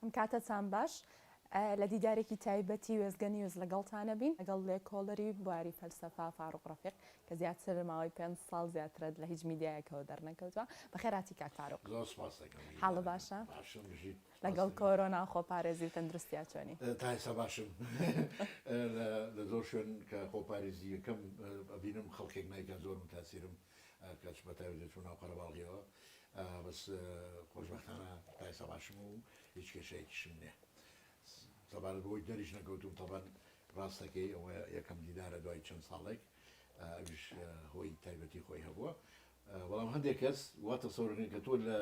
ئەم کاتەتان باش. لە دیدارێکی تایبەتی وێستگە نیوز لەگەڵتانەبین لەگەڵ لێکۆڵەری بواری فەلسەفە فاروق رەفیق کە زیاتر ماوەی پێنج ساڵ زیاترە لە هیچ میدیایەکەوە دەرنەکەوتوە. بەخێر هاتی کاک فاروق. زۆر سوپاس دەکەم گیان. حاڵ باشە؟ باشم بژیت. لەگەڵ کۆرۆنا و خۆپارێزی و تەندروستیا چۆنی؟ تا ئێستا باشم. لە زۆر شوێن کە خۆپاریزیەکەم ئەبینم خەڵکێک نایکات زۆر متاسیرم. کەچ بە تایبەتی دەچمە ناو قەرەباڵغیەوە بەس خۆشبەختانە تا ئێستا باشم و هیچ کێشەیەکیشم نیە سەبارەت بۆی دەریش نەکەوتوم تەبەن ڕاستەکەی ئەوە یەکەم دیدارە دوای چەند ساڵێک ئەوش هۆی تایبەتی خۆی هەبووە بەڵام هەندێک کەس وا تەسەورەکەن کە تۆ لە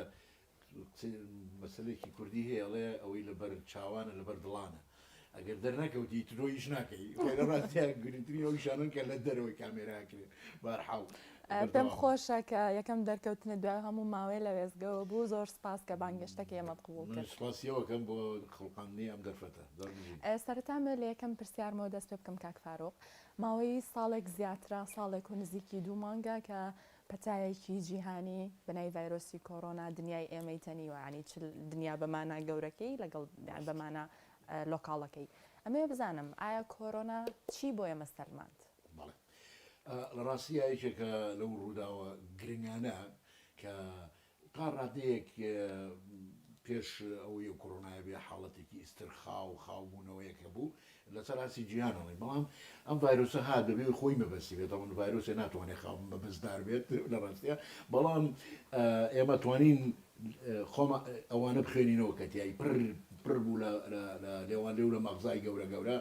مەسەلەیەکی کوردی هەیە ئەڵێ ئەوەی لە بەر چاوانە لە بەر دڵانە ئەگەر دەرنەکەوتی تۆ هیچ ناکەی خۆرە ڕاستە گرنگترین ئەو شانن کە لە دەرەوەی کامێرا کرێن بارحاڵ پێم خۆشە کە یەکەم دەرکەوتنە دوای هەموو ماوەیە لە وێزگەوە بوو زۆر سپاس کە بانگێشتەکە ئێمەت قبول کرد سپاسیەوەکەم بۆ خڵقاندنی ئەم دەرفەتە سەرەتا مە لە یەکەم پرسیارمەوە دەست پێ بکەم کاک فاروق ماوەی ساڵێک زیاترا ساڵێک و نزیکی دوو مانگە کە پەتایەکی جیهانی بەناوی ڤایرۆسی کۆرۆنا دنیای ئێمەی تەنیوە یانی چ دنیا بە مانا گەورەکەی لەگەڵ یان بە مانا لۆکاڵەکەی ئەمەوێ بزانم ئایا کۆرۆنا چی بۆ ئێمە سەلماند؟ بەڵێ لە ڕاستیدا یەکێکە لەو ڕووداوە گرنگانە کە تا ڕادەیەک پێش ئەوەی کۆرۆنای بێ حاڵەتێکی ئیسترخا و خاوبوونەوەیەک هەبوو لەسەر ئاستی جیهانەوەی بەڵام ئەم ڤایرۆسە هات بەبێ و خۆی مەبەستی بێت ئەوەن ڤایرۆسێ ناتوانێت خاو مەبەستدار بێت لە ڕاستە بەڵام ئێمە توانین خۆمە ئەوانە بخوێنینەوە کە تیایی پر پر بوو لە لێوان لێو لە مەغزای گەورە گەورە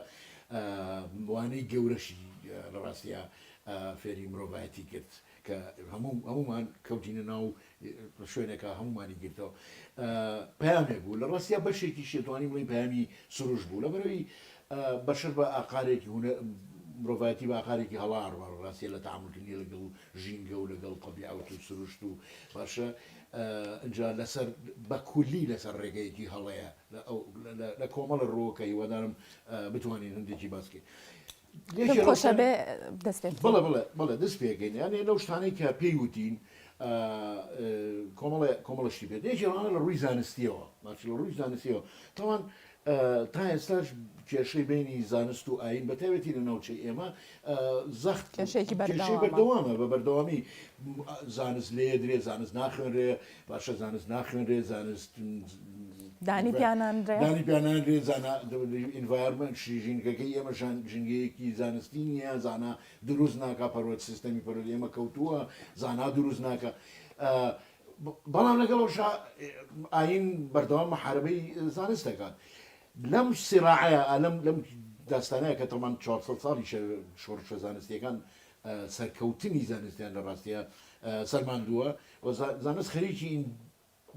وانەی گەورەشی لە ڕاستە فێری مرۆڤایەتی کرد کە هەموو هەموومان کەوتینە ناو شوێنێکە هەموومانی گرتەوە پامێک بوو لە ڕاستیا بەشێکی شێتوانی بڵی پامی سروش بوو لەبەرەوەی بەشەر بە ئاقارێکی هونە مرۆڤایەتی باقارێکی هەڵار بە ڕاستە لە تعاملکردنی لەگەڵ ژینگە و لەگەڵ تەبیعوت و سروشت و باشە ئەجا لەسەر بەکولی لەسەر ڕێگەیەکی هەڵەیە لە کۆمەڵە ڕۆکە هیوادارم بتوانین هەندێکی باسکەین. پێم خۆشە بێ دەست پێ بکەین. بەڵێ بەڵێ بەڵێ دەست پێ ئەکەین یانێ لەو شتانەی کە پێی وتین کۆمەڵێ کۆمەڵە شتی بێت یەکێ ڕەوانە لە ڕووی زانستیەوە ماچ لە ڕووی زانستیەوە تاوان تا ئێستاش کێشەی بینی زانست و ئاین بەتاوێتی لە ناوچەی ئێمە زەخت کێشێکی بەردەوامە بە بەردەوامی زانست لێ درێ زانست ناخوێنرێ باشە زانست ناخوێنرێ زانست دانی پیانانرێ دانی پیانانرێ زانا ئینڤارمنت ژینگەکەی ئێمە ژینگەیەکی زانستی نییە زانا دروست ناکە پەرۆت سیستەمی پەرۆت ئێمە کەوتووە زانا دروست ناکە بەڵام لەگەڵ ئەوش ئاین بەردەوام محاربەی زانست دەکات لەم سیراعەیە ئەلم لەم داستانەیە کە تەمان 400 ساڵی شۆڕشە زانستیەکان سەرکەوتنی زانستیان لە ڕاستیا سەلماندووە و زانست خەریکی این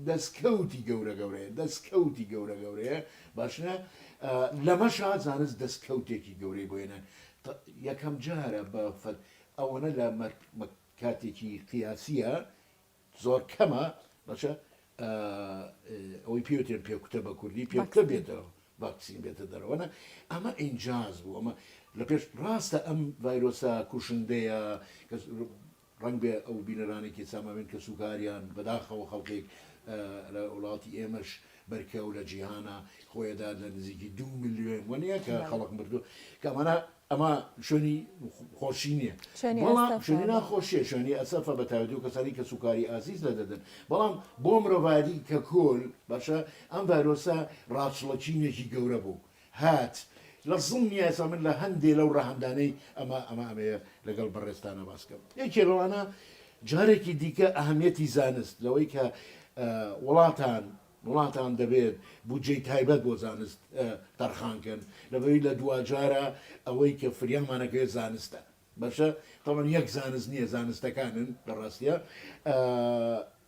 دەسکەوتی گەورە گەورەیە، دەسکەوتی گەورە گەورەیە باشە لەمەشا زانست دەسکەوتێکی گەورەی بۆ هێنان یەکەم جارە بە ئەوەنە لە کاتێکی قیاسیە زۆر کەمە بەچە ئەوەی پێوتێن پێکوتە بە کوردی پێکتە بێتەوە ڤاکسین بێتە دەرەوەە ئەمە ئینجاز بوو ئەمە لە پێش ڕاستە ئەم ڤایرۆسە کوشندەیە ڕنگ بێ ئەو بینەرانێکی ساماوێن کە سوکاریان بەداخەوە خەڵکێک لە وڵاتی ئێمەش بەرکە و لە جیهانە خۆیەدا لە نزیکی دوو ملیۆن وە نیە کە خەڵک مردووە کە ئەمانە ئەمە شوێنی خۆشی نییە بەڵام شوێنی ناخۆشیە شوێنی ئەسەفە بە تایبەتی و کەسانی کە سوکاری ئازیز لە دەدەن بەڵام بۆ مرۆڤایەتی کە کۆل باشە ئەم ڤایرۆسە ڕاچڵەکینێکی گەورە بوو هات لە زمنی یاسا من لە هەندێ لەو ڕەهەندانەی ئەمە ئەمە ئەمەیە لەگەڵ بەڕێزتانا باس کەم یەکێ لەوانە جارێکی دیکە ئەهمیەتی زانست لەوەی کە وڵاتان وڵاتان دەبێت بودجەی تایبەت بۆ زانست تەرخانکەن لەبەوی لە دواجارە ئەوەی کە فریامانەکەێ زانستە بەشە تەبەن یەک زانست نیە زانستەکانن لە ڕاستیا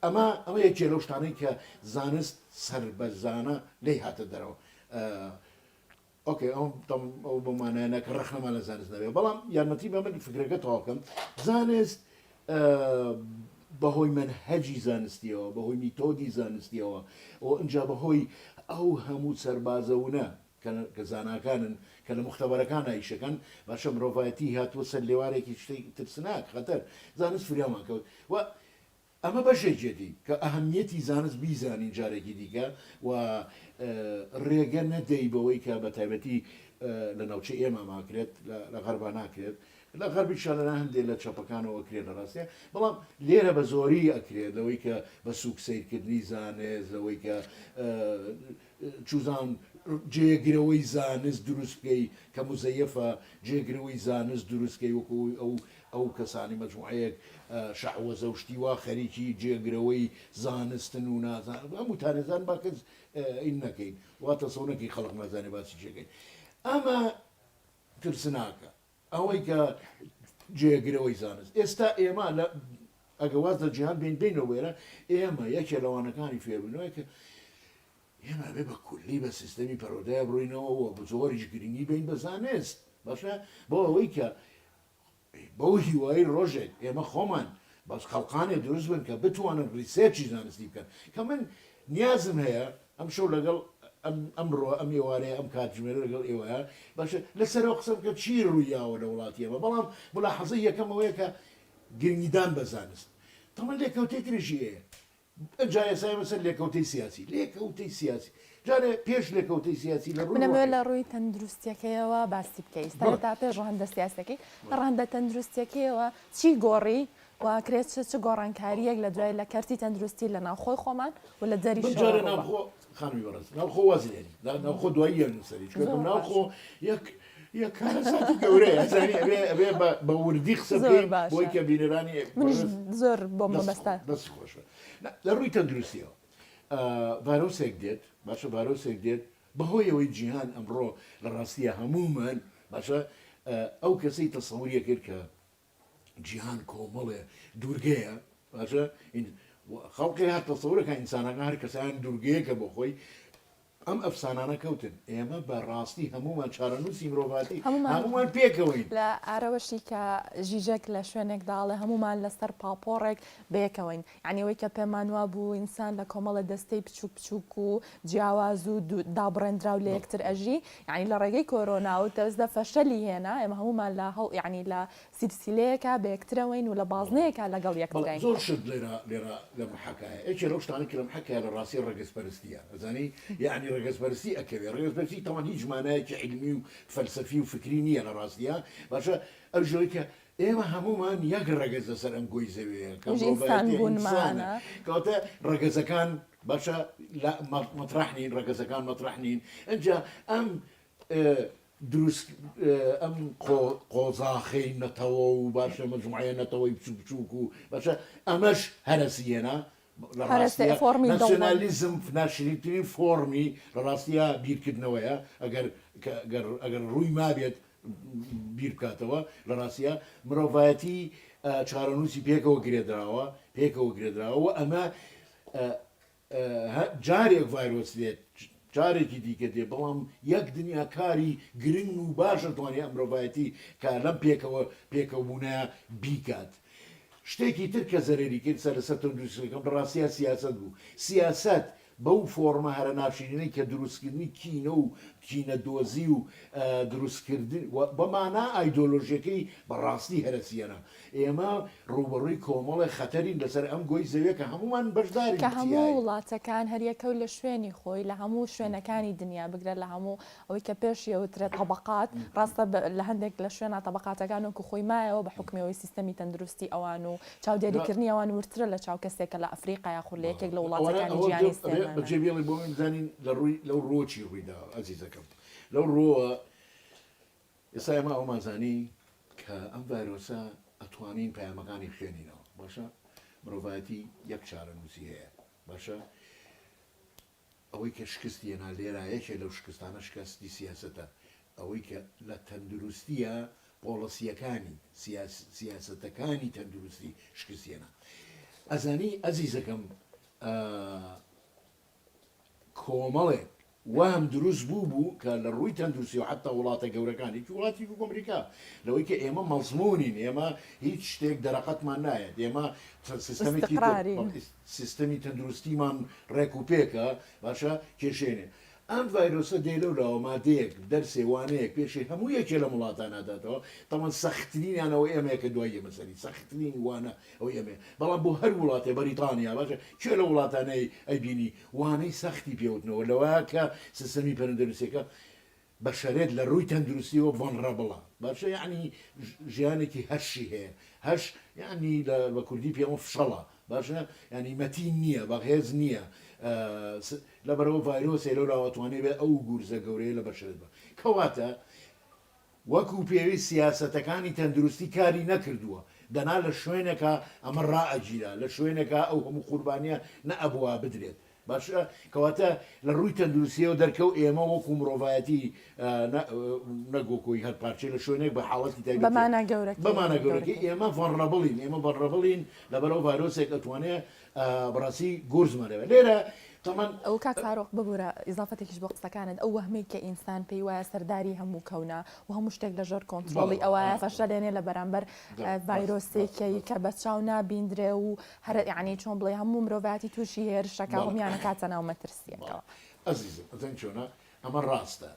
ئەمە ئەمە یەکێ لەو شتانەی کە زانست سربەرزانە لێی هاتە دەرەوە ئۆکەی ئەو ئەو بۆ مانایەنە کە ڕخنەمان لە زانست نەبێ بەڵام یارمەتی بە من فکرەکە تەواکەم زانست بەهۆی من هەجی زانستیەوە بەهۆی میتۆدی زانستیەوە ئەو ئەجا بەهۆی ئەو هەموو سەربازەونە کە زاناکانن، کە لە موختەبەرەکانا ئیشەکەن، باشە مرۆڤایەتی هاتووە سەر لێوارێکی شتێ ترسناک، خەتەر، زانست فریامان کەوت و ئەمە بەشێکیەتی کە ئەهەمیەتی زانست بیزانین جارێکی دیکە و رێگە نەدەی بەوەی کە بە تایبەتی لە ناوچەی ئێمە ماکرێت لە غەربا ناکرێت، لە غەربی شا لە لا هەندێ لە چەپەکانەوە کرێ لە راستێ، بەڵام لێرە بە زۆری ئەکرێت لەوەی کە بە سووک سەیرکردنی زانست لەوەی کە چوزان، جێگرەوەی زانست دروست بکەی کە موزەیەفە، جێگرەوەی زانست دروست کەی وەکو ئەوەی ئەو ئەو کەسانی مەجموعەیەک شەعوەزە و شتی وا خەریکی جێگرەوەی زانستن و نازانن هەموو تانێزان با کەس ی نەکەین وا تەسەو نەکەی خەڵق نازانێ باسی چیەکەین ئەمە ترسناکە ئەوەی کە جێگرەوەی زانست ئێستا ئێمە لە ئەگە واز لە جیهان بین بینەوە وێرە ئێمە یەکێ لەوانەکانی فێربوونەوەی کە ئێمە بێ بە کولی بە سیستەمی پەرۆدای بڕینەوەەوە بزۆریش گرنگی بین بە زانست باشە بۆ ئەوەی کە بەو هیوایی ڕۆژێک ئێمە خۆمان بەس خەڵقانێ دروست بن کە بتوانن ڕیسێرچی زانستی بکەن کە من نیازم هەیە ئەمشەو لەگەڵ ئەم ئەمڕۆ ئەم ئێوارەیە ئەم کاتژمێرە لەگەڵ ئێوەیە باشە لەسەر ئەوە قسە بکە چی ڕوویاوە لە وڵاتی ئێمە بەڵام مولاحەزەی یەکەم ئەوەیە کە گرنگیدان بە زانست تەڵ لێکەوتەی تریشی هەیە ئەجا ئێسا ئێمە سەر لێکەوتەی سیاسی لێکەوتەی سیاسی جارێ پێش لێکەوتەی سیاسی لە ڕووی منەوێت ڕۆحی لە ڕووی تەندروستیەکەیەوە باسی بکەی ئێستا بەڵێ هێتا پێش ڕەهەندە سیاسیەکەی بەڵێ ڕەهەندە تەندروستیەکەیەوە چی گۆڕی و ئەکرێت چ چ گۆڕانکارییەک لە دوای لە کەرتی تەندروستی لە ناوخۆی خۆمان و لە دەریشەوە رووبا؟ بنجارە ناوخۆ، خانمی بەڕێز، ناوخۆ واز لێنی، دا ناوخۆ دواییە نووسەری، چونکە زۆر ناوخۆ باشە. یەک یەک کارەساتی گەورەیە، زانی ئەبێ ئەبێ بە بە وردی قسە زۆر بکەین بۆی باشە کە بینەرانی منیش بەڕێز زۆر بۆم دەست خۆ مەبەستە. دەستی خۆش بێت. نا، لە رووی تەندروستییەوە ئا ڤایرۆسێک دێت، باشە ڤایرۆسێک دێت بە هۆی ئەوەی جیهان ئەمڕۆ لە راستییا هەموومان باشە ئا ئەو کەسەی تەسەوری ئەکرد کە جیهان کۆمەڵێ دوورگەیە باشە ئین و خەڵکێ هات تەسەورەکە ئینسانەکە هەر کەسەیان دوورگەیەکە بۆ خۆی ئەم ئەفسانانە کەوتن ئێمە بە ڕاستی هەمومان چارەنووسی مرۆڤاتی هەمومان. هەمومان پێکەوەین لە ئارەوەشی کە ژیژەک لە شوێنێکداڵێ هەمومان لەسەر پاپۆڕێک بەیەکەوەین یانی ئەوەی کە پێمان وابوو ئینسان لە کۆمەڵە دەستەی بچووک بچووک و جیاواز و دابڕێندراو لە یەکتر ئەژی یانی لە ڕێگەی کۆرۆنا و تەزدە فەشەلی هێنا ئێمە هەموومان لە هەوڵ یانی لە سیلسیلەیەکا بە یەکترەوەین و لە بازنەیەکا لەگەڵ بەڵێ یەکترین. زۆر شت لێرە لێرە لە محەکایە یەکێ لەو شتانەی کە لە محەکایە لە ڕاستی ڕەگەزپەرستیە ئەزانی یانی ڕەگەزپەرستی ئەکەوێ ڕەگەزپەرستی تاوان هیچ مانایەکی عیلمی و فەلسەفی و فکری نییە لە ڕاستیا باشە ئەو ژۆی کە ئێمە هەموومان یەک ڕەگەز لەسەر ئەم گۆی زەویەیە کە مرۆڤایەتی ئینسانە کەواتە ڕەگەزەکان باشە مەتڕەح نین ڕەگەزەکان مەتڕەح نین ئەجا ئەم دروست ئەم قۆزاخەی نەتەوە و باشە مەجموعە نەتەوەی بچوک بچووک و باشە ئەمەش هەرەسیەنە لە ڕاستییا ناسیۆنالیزم ناشرینترین فۆڕمی لە ڕاستییا بیرکردنەوەیە ئەگەر گەر ئەگەر ڕووی مابێت بیر بکاتەوە لە ڕاستییا مرۆڤایەتی چارەنووسی پێکەوە گرێدراوە پێکەوە گرێدراوە ئەمە جارێک ڤایرۆس لێت جارێکی دیکە دێ بەڵام یەک دنیا کاری گرنگ و باش دەتوانێ مرۆڤایەتی کار لەم پێکەوە پێکەوبوونەیا بیکات شتێکی تر کە زەرەری کرد سەر لەسەر تەندروستیەکەم بەڕاستیا سیاسەت بوو سیاسەت بەو فۆڕمە هەرە ناشرینەی کە دروستکردنی کینە و کینە دۆزی و دروستکردن بە مانا ئایدۆلۆژیەکەی بەڕاستی هەرەسیەنە ئێمە ڕووبەڕووی کۆمەڵێ خەتەرین لەسەر ئەم گۆی زەویە کە هەموومان بەشدارین کە هەموو تیای. وڵاتەکان هەریەکە و لە شوێنی خۆی لە هەموو شوێنەکانی دنیا بگرە لە هەموو ئەوەی کە پێش یەوترێت طبقات ڕاستە لە هەندێک لە شوێنا طبقاتەکان وەکو خۆی مایەوە بە حوکمی ئەوەی سیستەمی تەندروستی ئەوان و چاودێریکردنی ئەوان وردترە لە چاو کەسێک کە لە ئەفریقا یاخود لە یەکێک لە وڵاتەکانی جیهان نیست ئێمە ئەمانە. بەجێ بێڵی بۆ من بزانین لە ڕووی لەو ڕۆ چی ڕووی داوە ئەزیزەکەم لەو ڕۆوە ئێستا ئێمە ئەوەمان زانی کە ئەم ڤایرۆسە ئەتوانین پەیامەکانی بخوێنینەوە باشە مرۆڤایەتی یەک چارەنووسی هەیە باشە ئەوەی کە شکستی هێنا لێرا یەکێ لەو شکستانە شکستی سیاسەتە ئەوەی کە لە تەندروستیە پۆڵەسیەکانی سیاسەتەکانی تەندروستی شکستێنە ئەزانی ئەزیزەکەم کۆمەڵێک وەهم دروست بوو بوو کە لە ڕووی تەندروستی و حەتتا وڵاتە گەورەکان هیچ وڵاتیک وەکو ئەمریکا لەوەی کە ئێمە مەزموونین ئێمە هیچ شتێک دەرەقەتمان نایەت ئێمە سیستەمێکی سیستەمی تەندروستیمان ڕێک و پێکە باشە کێشێنێ ئەم ڤایرۆسە دێ لەو لاوە مادەیەک دەرسێ وانەیەک پێشێ هەموو یەکێ لە وڵاتان ناداتەوە تاوان سەختترینیانەوە ئێمەیە کە دوای ئێمە سەری سەختترین وانە ئەوەی ئەمەیە بەڵام بۆ هەر وڵاتێ بەریتانیا باشە کێ لە وڵاتانەی ئەیبینی وانەی سەختی پێوتنەوە لەوەیە کە سستەمی پەرندەنوسیەکە بەشەرێت لە ڕووی تەندروستیەوە ڤەنڕەبڵە باشە یەعنی ژیانێکی هەشی هەیە هەش یەعنی لە بە کوردی پێوە فشەڵە باشە یەعنی مەتین نییە بەغێز نییە لەبەرەوە ڤایرۆسێ لەو لاوە توانێ بێ ئەو گورزە گەورەیە لە بەشێت بە کەواتە وەکو پێویست سیاسەتەکانی تەندروستی کاری نەکردووە، دەنا لە شوێنێکا ئەمە ڕائەگیرا، لە شوێنێکا ئەو هەموو قوربانییە نەئەبوا بدرێت. باشە کەواتە لە ڕووی تەندروستییەوە دەرکەو ئێمە وەکو مرۆڤایەتی نە نە گۆکۆی هەر پارچەی لە شوێنێک بە حاڵەتی تایبەت بە مانا گەورەکەی بە مانا گەورەکەی ئێمە ڤەنڕەبڵین، ئێمە ڤەنڕەبڵین لەبەر ئەو ڤایرۆسێک ئەتوانێ بەڕاستی گورزمە لەوێ لێرە تەمەن. ئەو کاک فاروق ببورە ئیزافەتێکیش بۆ قسەکانت ئەو وەهمەی کە ئینسان پێی وایە سەرداری هەموو کەونە و هەموو شتێک لەژێر کۆنترۆڵی ئەوایە فەشەلێنێ لە بەرامبەر ڤایرۆسێکەی کە بە چاو نابیندرێ و هەر یعنی چۆن بڵێ هەموو مرۆڤاتی تووشی هێرشەکە هەمیانەکاتە ناو مەترسیەکەەوە ئەزیزم ئەزەن چۆنە ئەمە ڕاستە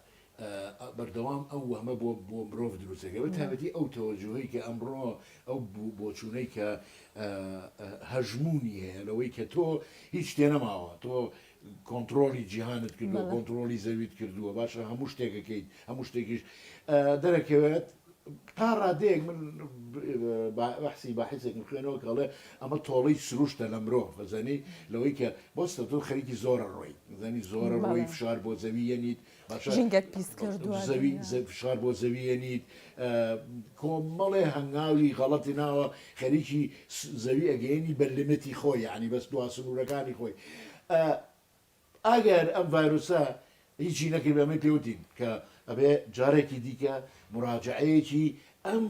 بەردەوام ئەو وەهمە بۆ بۆ مرۆڤ دروست دەکرێت، بە تایبەتی ئەو تەوەجوهەی کە ئەمڕۆ ئەو بۆچوونەی کە هەژموونی هەیە لەوەی کە تۆ هیچ تێ نەماوە تۆ کۆنتترۆلی جیهانت کردووە کۆنتترۆلی زەویت کردووە باشە هەموو شتێکەکەیت هەموو شتێکیش دەرەکەوێت تا ڕادەیەک من بەحسی باحسێکم خوێنەوە کەڵێ ئەمە تۆڵی سروشتە لە مرۆ بەزانی لەوەی کە بۆستە تۆ خەریکی زۆرە ڕۆی زانی زۆرە ڕۆی فشار بۆ زەوی یەنیت ژینگەت پیس کردووە دنیا. فشار بۆ زەوی ئەنیت کۆمەڵێ هەنگاوی غەڵەتی ناوە خەریکی زەوی ئەگەیەنی بە لیمتی خۆی یەعنی بەس دوا سنورەکانی خۆی ئاگایەر ئەم ڤایرۆسە هیچی نەکردبێ ئەمەی پێوتین کە ئەبێ جارێکی دیکە مراجەعەیەکی ئەم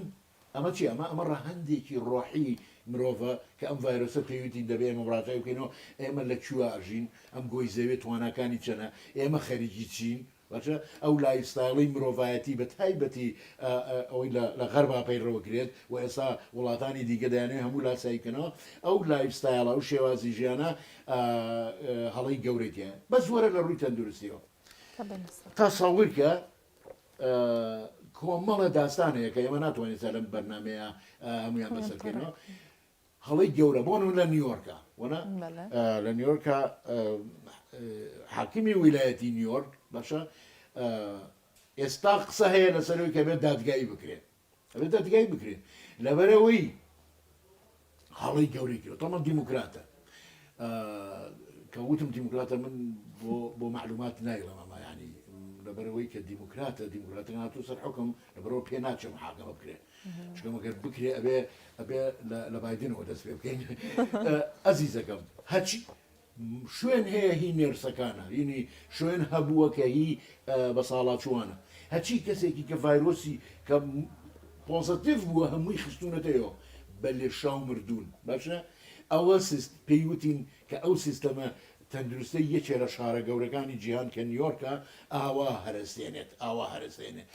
ئەمە چیە ئەمە ئەمە ڕەهەندێکی ڕۆحی مرۆڤە کە ئەم ڤایرۆسە پێویتی دەبێ ئێمە مراجعەی بکەینەوە ئێمە لە کوێ ئەژین ئەم گۆی زەوێ تواناکانی چەنە ئێمە خەریکی چین باشە ئەو لایفستایڵی مرۆڤایەتی بە تایبەتی ئە ئە ئەوەی لە لە غەربا پەیڕەو کرێت و ئێستا وڵاتانی دیکە دەیانەوێ هەموو لاسایی بکەنەوە ئەو لایفستایڵە ئەو شێوازی ژیانە ئە ئە هەڵەی گەورەی تیایە بەس وەرە لە ڕووی تەندروستیەوە تەسەوەر کە کۆمەڵە داستان هەیە کە ئێمە ناتوانین سەر لەم بەرنمەیە هەمویان بەسەر بکەینەوە هەڵی گەورە بۆن و لە نیویۆرکە وەنا لە نیویۆرکە حاکمی ویلایەتی نیویۆرک باشە ئێستا قسە هەیە لەسەرەوەی کە بێت دادگایی بکرێت ئەبێ دادگایی بکرێت لەبەرەوەی هەڵەی گەورەی کرد تۆمە دیموکراتە کە وتم دیموکراتە من بۆ معلومات نایڵم ئەمە ینی لەبەرەوەی کە دیموکراتە دیموکراتەکە هاتو سەر حکم لەبەرەوە پێ ناچێ محاکەمە بکرێت چکەمەگەر بکرێ ئەبێ ئەبێ لە بادنەوە دەست پێ بکەین ئەزیزەکەم هەچی شوێن هەیە هی نێرسەکانە ینی شوێن هەبووە کە هی بەساڵاچووانە هەچی کەسێکی کە ڤایرۆسی کە پۆزەتیڤ بووە هەمووی خستوونەتەوە بە لێشاو مردوون باشە ئەوە سیست پێی وتین کە ئەو سیستەمە تەندروستەی یەکێ لە شارە گەورەکانی جیهان کە نیۆرکە ئاوا هەرەسێنێت ئاوا هەرەسێنێت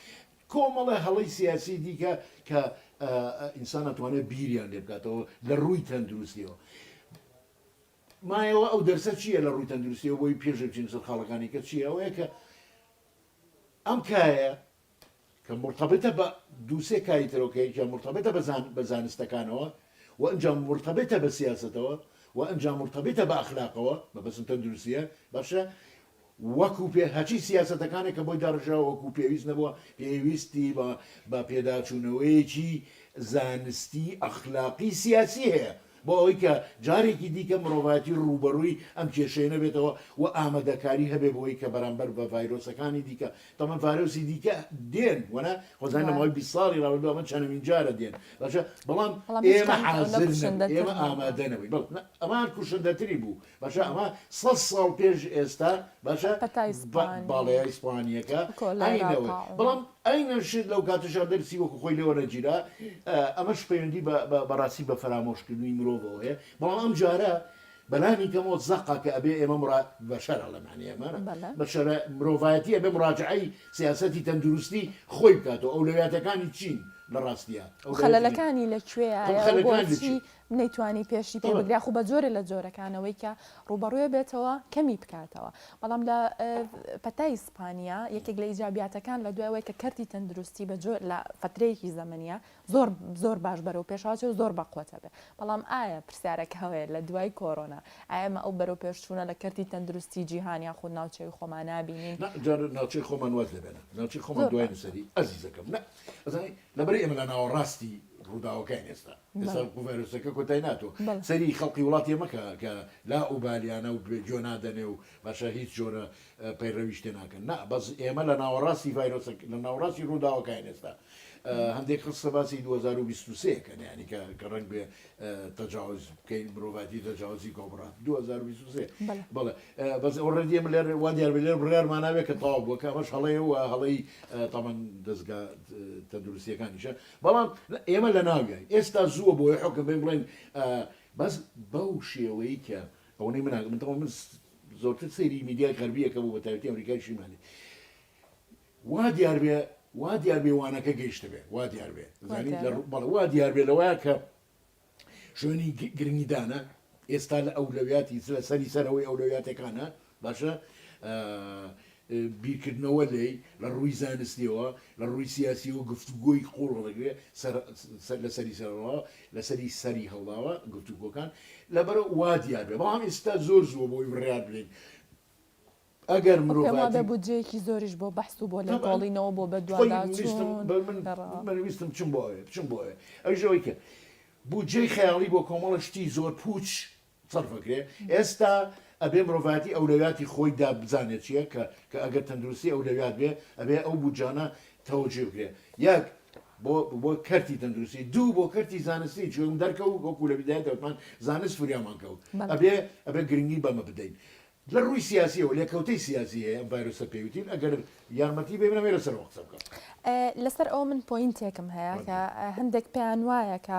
کۆمەڵە هەڵی سیاسی دیکە کە ئینسان ئەتوانێت بیریان لێ بکاتەوە لە ڕووی تەندروستیەوە مایەوە ئەو دەرسە چیە لە ڕووی تەندروستیەوە بۆی پێشێ بچین سەر خاڵەکانی کە چیە ئەوەیە کە ئەم کایە کە مرتبطە بە دوو سێ کای ترەوە کە یەکیان مرتبطە بە زان بە زانستەکانەوە و ئەنجا مرتبطە بە سیاسەتەوە و ئەنجا مرتبطە بە ئەخلاقەوە مەبەستم تەندروستیە باشە وەکو پێ هەچی سیاسەتەکانێک کە بۆی داڕشراوە وەکو پێویست نەبووە، پێویستی بە بە پێداچوونەوەیەکی زانستی ئەخلاقی سیاسی هەیە بۆ ئەوەی کە جارێکی دیکە مرۆڤایەتی ڕووبەڕووی ئەم کێشەیە نەبێتەوە و ئامادەکاری هەبێ بۆی کە بەرامبەر بە ڤایرۆسەکانی دیکە تەمان ڤایرۆسی دیکە دێن وەنا خۆزانی لە ماوەی بیست ساڵی ڕابردوو ئەمە چەنەمین جارە دێن باشە بەڵام ئێمە حازر نەبووین ئێمە ئامادە نەبووین بەڵێ ئەمان کوشندەتری بوو باشە ئەمە سەد ساڵ پێش ئێستا باشە باڵای ئیسپانیەکە ئەینەوە بەڵام ئەینە شت لەو کاتەشا دەرسی وەکو خۆی لەوە نەگیرا ئەمەش پەیوەندی بەڕاستی بە فەرامۆشکردنی مرۆڤەوە هەیە بەڵام ئەم جارە بەلانی کەمەوە زەقا کە ئەبێ ئێمە مڕ بەشەرە لەمانێ ئەمانە بەشەرە مرۆڤایەتی ئەبێ مراجعی سیاستی تەندروستی خۆی بکاتەوە ئەو لەویاتەکانی چین لە ڕاستە خەلەکانی لەکوێ نەیتوانی پێشی پێ بگرێ خو بە جۆرە لە جۆرەکانەوەی کە ڕوبەڕوێ بێتەوە کەمی بکاتەوە بەڵام لە پەتای ئیسپانیا یەکێک لە ئیجاباتەکان لە دوایەوەی کە کەرتی تەندروستی بە جۆر لە فترەیەکی زەمەنە زۆر زۆر باش بەرەو پێشاچێ و زۆر بەقوتە بێ بەڵام ئایا پرسیارەکە هەوەیە لە دوای کۆرۆنا ئایمە ئەو بەرەو پێشچوونە لە کەرتی تەندروستی جیهانیا خود ناوچەوی خۆمان نبینین ناوچەی خۆمان واز لێ بێنە ناوچەی خۆمان دوای نووسری ئەزیزەکەم نە لەبەر ئێمە لە ناوەڕاستی ڕووداوەکەی ئێستا ئێستا گوڤەرۆسەکە کۆتای ناتوە سەری خەڵقی وڵاتیە مەکە کە لا ئوبالیانە و جۆ نادەنێ و باشە هیچ جۆرە پەیڕەویش تێ ناکەن نا بەس ئێمە لە ناوەڕاستی ڤایرۆسە لە ناوڕاستی ڕووداوەکان ئێستا هەندێک قسە باسی 2023 کە نیانی کە کە ڕنگ بێ تەجاوز بکەین مرۆڤاتی تەجاوزی کۆبڕات 2023 بەڵێ بەس ئەو ڕێدیە من لێر وا دیار لێر بڕارمان ناوێت کە تاوا بووە کە ئەمەش هەڵەیە و هەڵەی تامان دەستگا تەندروستیەکانیشە بەڵام ئێمە لە ناویاین ئێستا زووە بۆیە حوکم بین بڵێن بەس بەو شێوەی کە ئەوەی مناگە من تەوە من زۆرتر سەیری میدیای غەربیەکە بۆ بەتاوتی ئەمریکای شیمالی وا دیار بێ وا دیار بێوانەکە گەیشتە بێ وا دیار بێ زانین بەڵ وا دیار بێ لەوەیە کە شوێنی گرنگیدانە ئێستا لە ئەولەویاتی لە سەری سەرەوەی ئەولەویاتەکانە باشە بیرکردنەوە لی لە ڕووی زانستیەوە لە ڕووی سیاسی و گفتوگۆی قوڵ ڕێگرێ لە سەری سەرەوە لە سەری سەری هەڵداوە گفتوگۆکان لەبەر وا دیارێ بەڵام ئێستا زۆر زووە بۆی بڕیار بلین ئەگەر مرۆڤایەتی. پێم وابێ بودجەیەکی زۆریش بۆ بەحس و بۆ لێکۆڵینەوە بۆ بەدواداچوون گەڕان. من ویستم بچم بۆ ئەوێ، بچم بۆ ئەوێ. ئەویش ئەوەی کرد. بودجەی خەیاڵی بۆ کۆمەڵە شتی زۆر پووچ سەرف ئەکرێ. ئێستا ئەبێ مرۆڤایەتی ئەولەویاتی خۆی دابزانێ چییە کە کە ئەگەر تەندروستی ئەولەویات بێ ئەبێ ئەو بودجانە تەوجیه بکرێ. یەک بۆ بۆ کەرتی تەندروستی، دوو بۆ کەرتی زانستی چوون دەرکەوت وەکوو لە بیدایەتەوە وتمان زانست فریامان کەوت. ئەبێ ئەبێ گرنگی بەمە بدەین. لە ڕووی سیاسیەوە لێکەوتەی سیاسی هەیە ئەم ڤایرۆسە پێی وتین ئەگەر یارمەتی بێ برام یە لەسەر ئەوە قسە بکە. لەسەر ئەوە من پۆینتێکم هەیە کە هەندێک پێیان وایە کە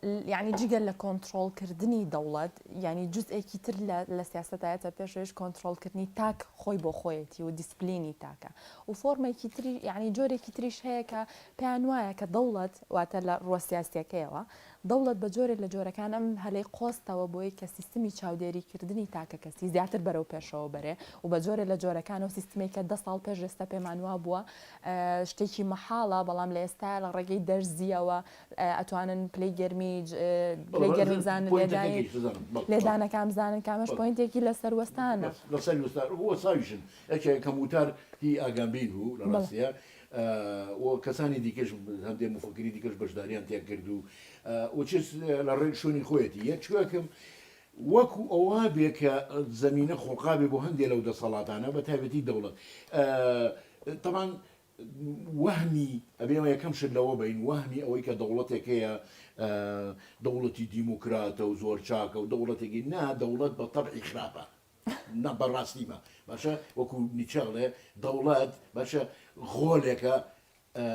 یعنی جگە لە کۆنتترۆلکردنی دەوڵەت ینی جزئێکی تر لە سیاستایەتە پێشێش کۆنتترۆلکردنی تاک خۆی بۆ خۆیەتی و دیسپلینی تاکە و فۆرمێکی تری ینی جۆرێکی تریش هەیە کە پێیان وایە کە دەوڵەت واتە لە ڕوە سیاسەکەیەوە دەوڵەت بە جۆرێک لە جۆرەکان ئەم هەلەی قۆستەوە بۆی کە سیستمی چاودێریکردنی تاکەکەسی زیاتر بەرەو پێشەوە بەرێ و بە جۆرێ لە جۆرەکان ئەو سیستمەی کە دە ساڵ پێش ئێستا پێمان وابووە شتێکی مەحاڵە بەڵام لە ئێستایە لە ڕێگەی دەرزییەوە ئەتوانن پلەی گەرمی پلەی گەرمی بزانن لێدانی لێدانەکان بزانن کە ئەمەش پۆینتێکی لەسەر وەستانە. لەسەر وەستان و وەستاویشن یەکێ کەم وتار هی ئاگامبین بوو لە ڕاستیا و کەسانی دیکەش هەندێ مفەکری دیکەش بەشداریان تێ کرد و ئوچس لە ڕێک شوێنی خۆیەتی یە چوەکم وەکو ئەوە بێ کە زمینە خۆقابێ بۆ هەندێک لەو دەسەڵاتانە بە تایبەتی دەوڵەت تەمان وەهمی ئەبێمە یەکەم شت لەوە بین وەهمی ئەوەی کە دەوڵەتێک هەیە دەوڵەتی دیموکراتە و زۆر چاکە و دەوڵەتێکی نا دەوڵەت بە تەبعی خراپە نا بەڕاستی بە باشە وەکو نیچە ئەڵێ دەوڵەت باشە غۆلێکە ئە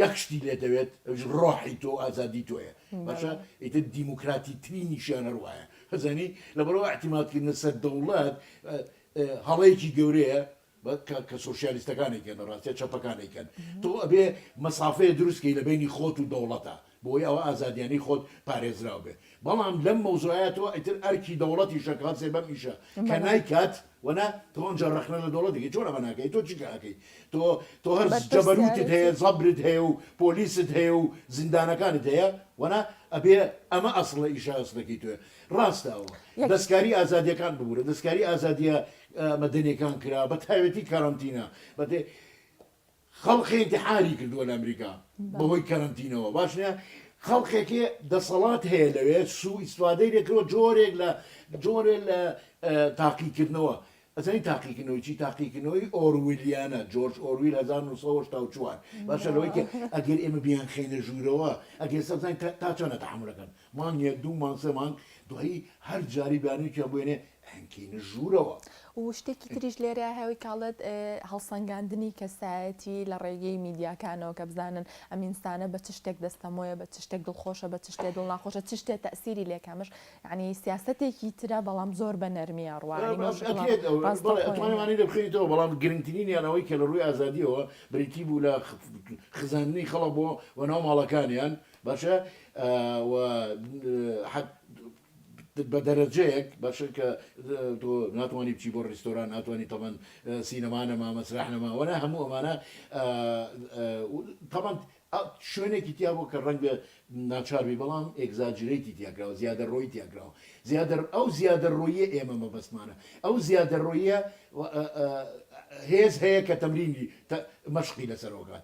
یەک شتی لێ دەوێت ئەوش ڕۆحی تۆ ئازادی تۆیە باشە ئیتر دیموکراتی ترینیشیان هەروایە هەزانی لەبەرەوە احتیماتکردنە سەر دەوڵەت ئە ئە هەڵەیەکی گەورەیە بە کە کە سۆشیالیستەکان ئەیکەن لە ڕاستیا چەپەکان ئەیکەن تۆ ئەبێ مەسافەیە دروست کەی لە بەینی خۆت و دەوڵەتا بۆ وەی ئەوە ئازادیانەی خۆت پارێزراو بێ بەڵام لەم مەوزوعەیا تۆ ئیتر ئەرکی دەوڵەتیشە کە هەڵسێ بەم ئیشە کە نایکات وەنا تۆ ئەنجا ڕەخنە لە دەوڵەت دەکەی چۆن ئەمە ناکەی تۆ چیکە ئەکەی تۆ تۆ هەر جەبەروتت هەیە بەرپرسیارێتی زەبرت هەیە و پۆلیست هەیە و زیندانەکانت هەیە وەنا ئەبێ ئەمە ئەسڵە ئیشە ئەسڵەکەی تۆیە ڕاستە ئەوە یەک دەسکاری ئازادیەکان ببورە دەسکاری ئازادیە مەدەنیەکان کرا بەتایبەتی کەرەنتینە بەێ خەڵقی انتحاری کردووە لە ئەمریکا بەهۆی کەرەنتینەوە باشە خەڵقێکی دەسەڵات هەیە لەوێ سوو ئیسوادەی لەکەوە جۆرێک لە جۆرێ لە تاقیکردنەوە ئەزانی تاقیکردنەوەی چی تاقیکردنەوەی ئۆرویلیانە جۆرج ئۆرویل 1940 باشە لەوەی ئەگەر ئێمە بیان خێنە ژوورەوە ئەگەر سەزانین تا چۆنە تحملەکەن مانگە دوو مانسە مانگ دوایی هەر جاری بانوکیان بێنێ هەنکینە ژوورەوە. و شتێکی تریش لێرەیە هەوی کاڵێت هەڵسەنگاندنی کەسایەتی لە ڕێگەی میدیاکانەوە کە بزانن ئەم ئینسانە بە چ شتێک دەستەمۆیە بە چ شتێک دڵخۆشە بە چ شتێ دڵ ناخۆشە چ شتێ تەسیری لێکەمش یعنی سیاسەتێکی ترە بەڵام زۆر بە نەرمیە ڕوا یعنی مەوش ئەکرێت ئەوە بەڵێ ڕاستەوخۆ ئەتوانی یعنی مانی لێ بخەیتەوە بەڵام گرنگترینیان ئەوەی کە لە ڕووی ئازادییەوە بریتی بوو لە خ خزاندنی خەڵک بۆ وەناو ماڵەکانیان باشە ئا و حەت بە دەرەجەیەک باشە کە تۆ ناتوانی بچی بۆ ڕیستۆران ناتوانی تەمەن سینەما نەما مەسرح نەما وەنا هەموو ئەمانە تەمەن شوێنێکی تیا بۆ کە ڕەنگە ناچاربی بەڵام ئێگزاجرێتی تیاکراوە زیادە ڕۆی تیاکراوە زیادە ئەو زیادە ڕۆیە ئێمە مەبەستمانە ئەو زیادە ڕۆیە هێز هەیە کە تەمرینی مەشقی لەسەرۆکات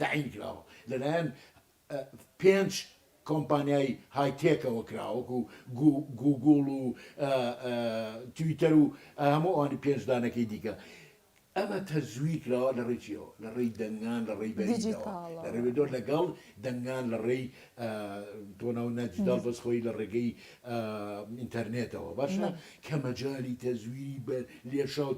تەعین کراوە لەلایەن پێنج کۆمپانیای های تێکەوە کراوە وەکو گووگوڵ و تویتەر و هەموو ئەوانی پێنج دانەکەی دیکە ئەمە تەزویر کراوە لە ڕێکیەوە لە ڕێی دەنگان لە ڕێی بەریدەوە لە ڕێبێدۆ لەگەڵ دەنگان لە ڕێی تۆ ناو نەجدەڵ بەس خۆی لە ڕێگەی ئینتەرنێتەوە باشە کە مەجای تەزویری بە لێشاو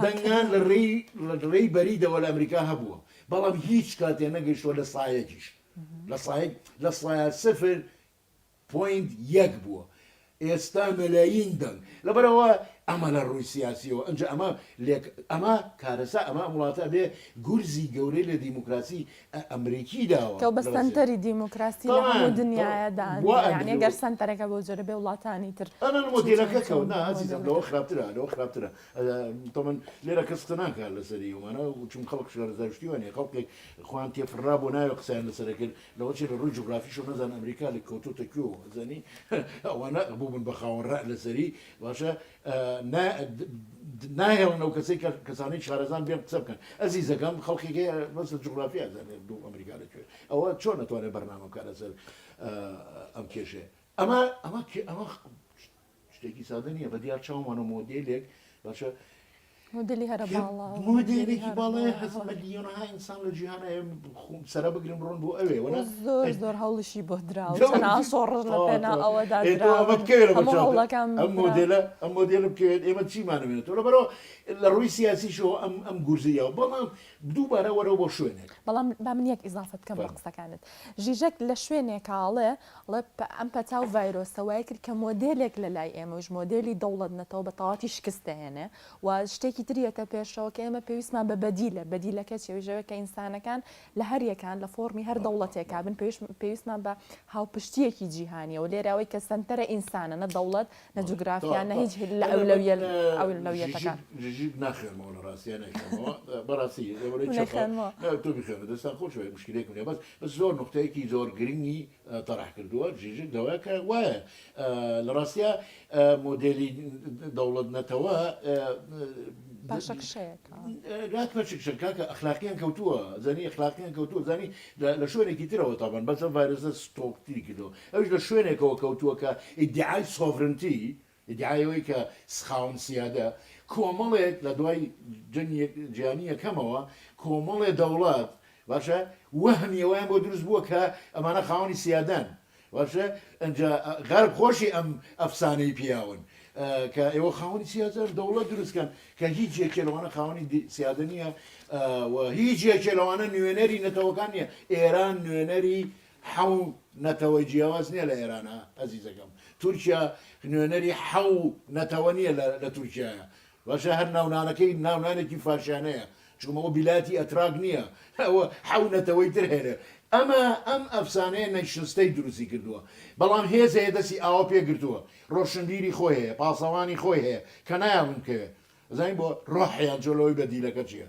دەنگان لە ڕێی لە ڕێی بەریدەوە لە ئەمریکا هەبووە بەڵام هیچ کاتێ نەگەشتوە لە سایەکیش لە سایەک لە سایە سفر پۆینت یەک بووە ئێستا مەلایین دەنگ. لەبەر ئەوە ئەمە لە ڕووی سیاسیەوە ئەنجا ئەمە لێک ئەمە کارەسا ئەمە ئەم وڵاتە ئەبێ گورزی گەورەی لە دیموکراسی ئە ئەمریکی داوە تۆ بە سەنتەری دیموکراسی لە هەموو دنیایە دانرا یانی ئەگەر سەنتەرەکە بەو جۆرە بێ وڵاتانی تر ئەمە لە مۆدێلەکە کەوت نا ئازیزم لەوە خراپترە لەوە خراپترە تەمەن لێرە کەس قسە ناکات لەسەری ئەومانە چون خەڵک شارەزای شتیوانە خەڵکێک خۆیان تێپەڕا بۆ ناوێ قسەیان لەسەرە کرد لەوە چی لە ڕووی جوگرافیشەوە نەزان ئەمریکا لە کەوتۆتە کوێ و ئەزانی ئەوانە بووبن بە خاوەن ڕەء لەسەری باشە ناهێڵن ئەو کەسەی کە کەسانی شارەزان بێن قسە بکەن ئەزیزەکەم خەڵکی بەس لە جوگرافی ئەزانێت دوو ئەمریکا لە کوێ ئەوە چۆن نەتوانێت بەرنامە بکە لەسەر ئەم کێشێ ئەمە ئەمە ئەمە شتێکی سادە نیە بەدیار چاومانە مۆدێلێک باشە مدلی هەرە مدلێکی باڵێ هەز ملیۆنها ئینسان لە جیهان خۆم سرە بگرم بڕۆن بۆ ئەوێ وە زۆر زۆر هەڵشی بۆ دراوەڵەکان ئەم مدلە ئەم مدلە بکەوێت ئێمە چیمانەوێت لە بەرەوە لە ڕووی سیاسیشەوە ئەم ئەم گورزیەوە بەڵام دووبارە وەرەوە بۆ شوێنێک بەڵام با من یەک ئیزافت کەم قسەکانت ژیژەک لە شوێنێکاڵێ ڵپ ئەم پەتا و ڤایرۆسە وای کرد کە مۆدێلێک لە لای ئێمەوش، مۆدێلی دەوڵەت نەتەوە بە تەواوەتی شکست دەهێنێ و شتێکی تر یەتە پێشەوە کە ئێمە پێویستمان بە بەدیلە، بەدیلەکە چیە؟ ئەویش ئەوەیە کە ئینسانەکان لە هەر یەکان لە فۆڕمی هەر دەوڵەتێکا بن پێویست پێویستمان بە هاوپشتییەکی جیهانیە و لێرە ئەوەی کە سەنتەرە ئینسانە نە دەوڵەت نە بەڵێ جوگرافیا تەواو نە تەواو هیچ هی لە ئەلێ من ئەولەویەل ئەولەویەتەکان. ژیژیت ژیژیت ناخوێنمەوە لە ڕاستیا نەیخوێنمەوە بە ڕاستی لەوەرەی چەپە منەخوێنمەوە. نە تۆ بیخوێنە دەستان خۆش بێت مشکلەیەکم نیە بەس زۆر نوقتەیەکی زۆر گرنگی تەڕح کردووە، ژیژک داوایە کە وایە لە ڕاستیا مۆدێلی دەوڵەت نەتەوە پاشەکشەیەکە ناک پەشکشە کاکە ئەخلاقیان کەوتووە زانی ئەخلاقیان کەوتووە زانی لە شوێنێکی ترەوە تابان بەسە ڤایرۆسە ستۆکتری کردەوە ئەوش لە شوێنێکەوە کەوتووە کە ئیدعای سۆڤرنتی ئیدعای ئەوەی کە سخاون سیادە کۆمەڵێک لە دوای جەنگی جیهانی یەکەمەوە کۆمەڵێ دەوڵەت باشە وەهمی ئەوەیان بۆ دروست بووە کە ئەمانە خاوەنی سیادەن باشە ئەنجا غەرب خۆشی ئەم ئەفسانەی پیاون کە ئێوە خاوەنی سیادەن دەوڵەت دروستکەن کە هیچ یەکێ لەوانە خاوەنی سیادە نییە و هیچ یەکێ لەوانە نوێنەری نەتەوەکان نیە ئێران نوێنەری حەو نەتەوەی جیاواز نیە لە ئێرانە ئەزیزەکەم تورکیا نوێنەری حەو نەتەوە نیە لە لە تورکیایە باشە هەر ناونانەکەی ناونانێکی فاشیانەیە چوم ئەوە بیلاتی ئەتراک نیە ئەوە حەو نەتەوەی تر هەیە ئەمە ئەم ئەفسانەیە نەشنستەی دروستی کردوە بەڵام هێز هەیە دەسی ئاوا پێ گرتوە ڕۆشنبیری خۆی هەیە پاسەوانی خۆی هەیە کە نایاڵم کەوێ ئەزانی بۆ ڕۆحیان چۆ لەوەی بەدیلەکە چیە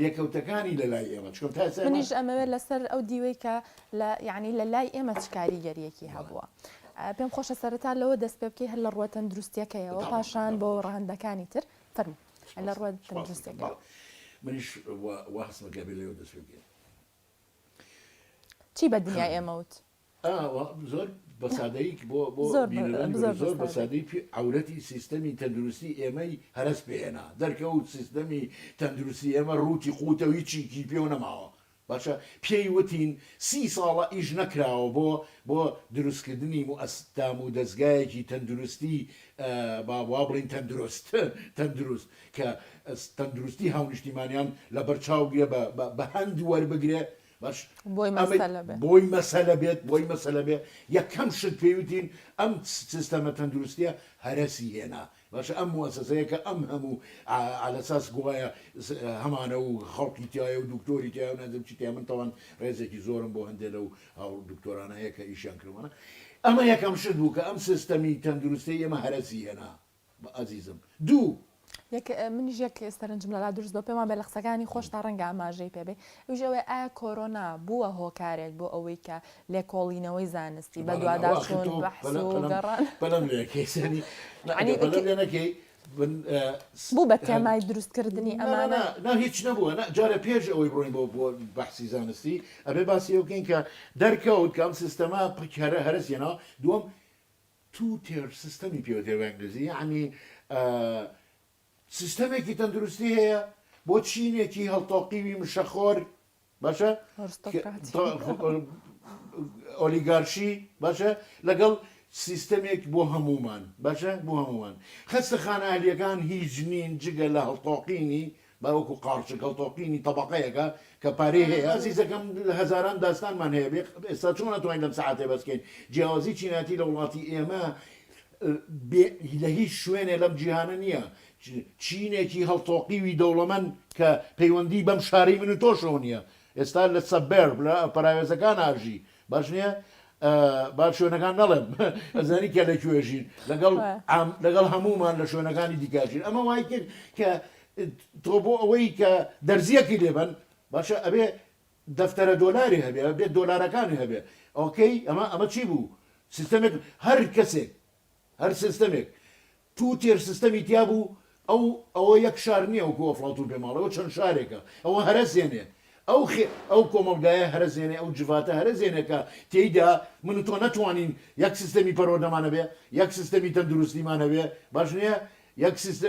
لێکەوتەکانی لە لای ئێمە چۆن تا ئێستا ئێمە. منیش ئەمەوێت لەسەر ئەو دیوەی کە لە یەعنی لە لای ئێمە چ کاریگەرییەکی هەبووە. پێم خۆشە سەرەتا لەوە دەست پێ بکەی هەر لە ڕووە تەندروستییەکەیەوە و پاشان بۆ ڕەهەندەکانی تر. فەرموو لە ڕووە تەندروستییەکەوە. منیش وا هەستم کە ئەبێ لەوێ دەست پێ بکەین. چی بە دنیای ئێمە وت؟ زۆر بەسادەیی بۆ بۆ زۆر بینەرانی بەرێز زۆر بە سادەیی پێ عەورەتی سیستەمی تەندروستی ئێمەی هەرەس پێ هێنا دەرکەوت سیستەمی تەندروستی ئێمە ڕووتی قووتە و هیچیکی پێوە نەماوە باشە پێی وتین سی ساڵە ئیش نەکراوە بۆ بۆ دروست کردنی موئەس دام و دەزگایەکی تەندروستی با وا بڵێین تەندروست تەندروست کە تەندروستی هاونیشتیمانیان لە بەر چاو گرێ بە بە بە هەند وەربگرێ باش بۆی ئەمەی مەسەلە بێ. بۆی مەسەلە بێت بۆی مەسەلە بێ یەکەم شت پێی وتین ئەم سیستەمە تەندروستیە هەرەسی هێنا باشە ئەم موەسەسەیە کە ئەم هەموو عە لەساس گوایە هەمانە و خەڵکی تیایە و دوکتۆری تیایە و نازم چی تیایە من تاوان ڕێزێکی زۆرم بۆ هەندێ لەو هاوڕ دوکتۆرانە هەیە کە ئیشیان کردووانە ئەمە یەکەم شت بوو کە ئەم سیستەمی تەندروستەی ئێمە هەرەسی هێنا بە ئەزیزم دوو. یەک منیش یەک سەرنجم لەلا دروست بوە پێمانبێ لە قسەکانی خۆشتا ڕەنگە ئاماژەی پێ بێ ئەویش ئەوەیە ئایا کۆرۆنا بوە هۆکارێک بۆ ئەوەی کە لێکۆڵینەوەی زانستی بە دوادا چون بەحس و گەڕان بەلەم لێ نەکەی سەری یانی بەلەم لێ نەکەی بوو بە تێمای دروست کردنی ئەمانە نا هیچ نەبوە نا جارە پێش ئەوەی بڕۆین بۆ بۆ بەحسی زانستی ئەبێ باسی ئەو بکەین کە دەرکەوت کە ئەم سیستەما پکەرە هەرسیەنەوە دووەم تو تێر سیستەمی پێوترێ بە ئینگلیزی یەعنی سیستەمێکی تەندروستی هەیە بۆ چینێکی هەڵتۆقیوی مشەخۆر باشە ئۆلیگارشی باشە لەگەڵ سیستەمێک بۆ هەمومان باشە بۆ هەمومان خەستە خانە ئەهلیەکان هیچ نین جگە لە هەڵتۆقینی با وەکو قارچک هەڵتۆقینی تەبەقەیەکە کە پارەی هەیە. ئەزیزەکەم هەزاران داستانمان هەیە بێ ئێستا چۆن ئەتوانین لەم سەعاتەی بەس کەین جیاوازی چینایەتی لە وڵاتی ئێمە بێ لە هیچ شوێنێ لەم جیهانە نیە چینێکی هەڵتۆقیوی دەوڵەمەند کە پەیوەندی بەم شارەی من و تۆشەوە نیە ئێستا لە سەبێرب لە پەراوێزەکان ئاژی باش نیە با شوێنەکان نەڵێم ئەزانی کە لە کوێژین لەگەڵ لەگەڵ هەمومان لە شوێنەکانی دیکاژین ئەمە وای کرد کە تۆ بۆ ئەوەی کە دەرزیەکی لێبن باشە ئەبێ دەفتەرە دۆلاری هەبێ بێت دۆلارەکانی هەبێ ئۆکەی ئەمە ئەمە چی بوو سیستەمێک هەر کەسێک هەر سیستەمێک تو تێر سستەمی تیا بوو ئەو ئەوە یەک شار نیە وەکو ئەفڵاتون پێم ئەڵێ ئەوە چەند شارێکە ئەوە هەرەزێنێ ئەو خێ ئەو کۆمەڵگایە هەرەزێنێ ئەو جڤاتە هەرەزێنێ کە تێیدا من و تۆ نەتوانین یەک سستەمی پەروەردەمان هەبێ یەک سستەمی تەندروستیمان هەبێ باش نیە یەک سستە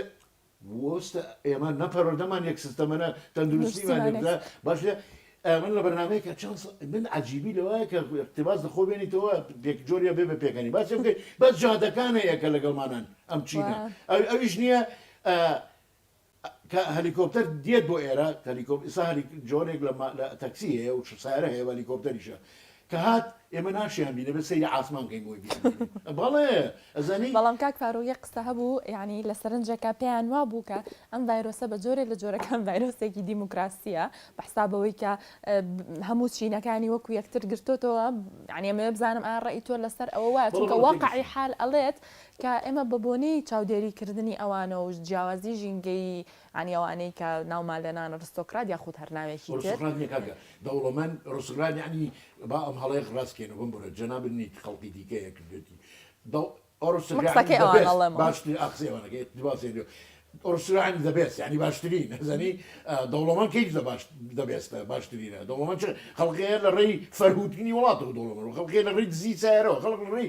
وۆستە ئێمە نە پەروەردەمان یەک سستەمە نە تەندروستیمان یەک دروستیمان سستە باش نیە ئەی من لە بەرنامەیەک کە چەند سا من عەجیبی لەوایە کە ئیقتیباس لە خۆ بێنیتەوە پێک جۆریا بێ بە پێکەنی باسی بکەی بەس جادەکان هەیە کە لەگەڵمانان ئەم چینە ئەو ئەویش نییە ئە کە هەلیکۆپتەر دێت بۆ ئێرە هەلیکۆپ ئیسا هەلی جۆرێک لە مە لە تەکسی هەیە و سارە هەیە و هەلیکۆپتەریشە کە هات ئێمە ناشیان بینێ بە سەیری عاسمان کەین بۆی بیانبینین بەڵێ ئەزانی. بەڵام کاک فاروق یەک قسە هەبوو یانی لە سەرنجەکە پێیان وابوو کە ئەم ڤایرۆسە بە جۆرێ لە جۆرەکان ڤایرۆسێکی دیموکراسیە بە حساب ئەوەی کە هەموو چینەکانی وەکو یەکتر گرتۆتەوە یانی ئەمەوێ بزانم ئا ڕێی تۆ لەسەر ئەوە وایە چونکە بەڵێ واقعی تێگەیشتم حال ئەڵێت کە ئێمە بە بۆنەی چاودێریکردنی ئەوانە و جیاوازی ژینگەیی یانی ئەوانەی کە ناومان لە نان ڕستۆکرات یاخود هەر ناوێکی تر. ئۆرستوکرات نیە کاکە دەوڵەمەند ڕستوکرات یانی با ئەم هەڵەیەش ڕاست کەینە بۆم بڕێت جەنابت نیت خەڵکی دیکەیە کردوێتی دەو ئۆرستوکرات من قسەکەی ئەوان ئەڵێمەوە باشترین ئا قسەی ئەوانە کەی ئیقتباس یانی ئۆرستوکرات یانی زە بێست یانی باشترین ئەزانی دەوڵەمەند کەی زە باش زە بێستە باشترینە دەوڵەمەند چ خەڵکەیە لە ڕێی فەرهوتنی وڵاتەوە دەوڵەمەند و خەڵکەیە لە ڕێی دزی سەیارەوە خەڵک لە ڕێی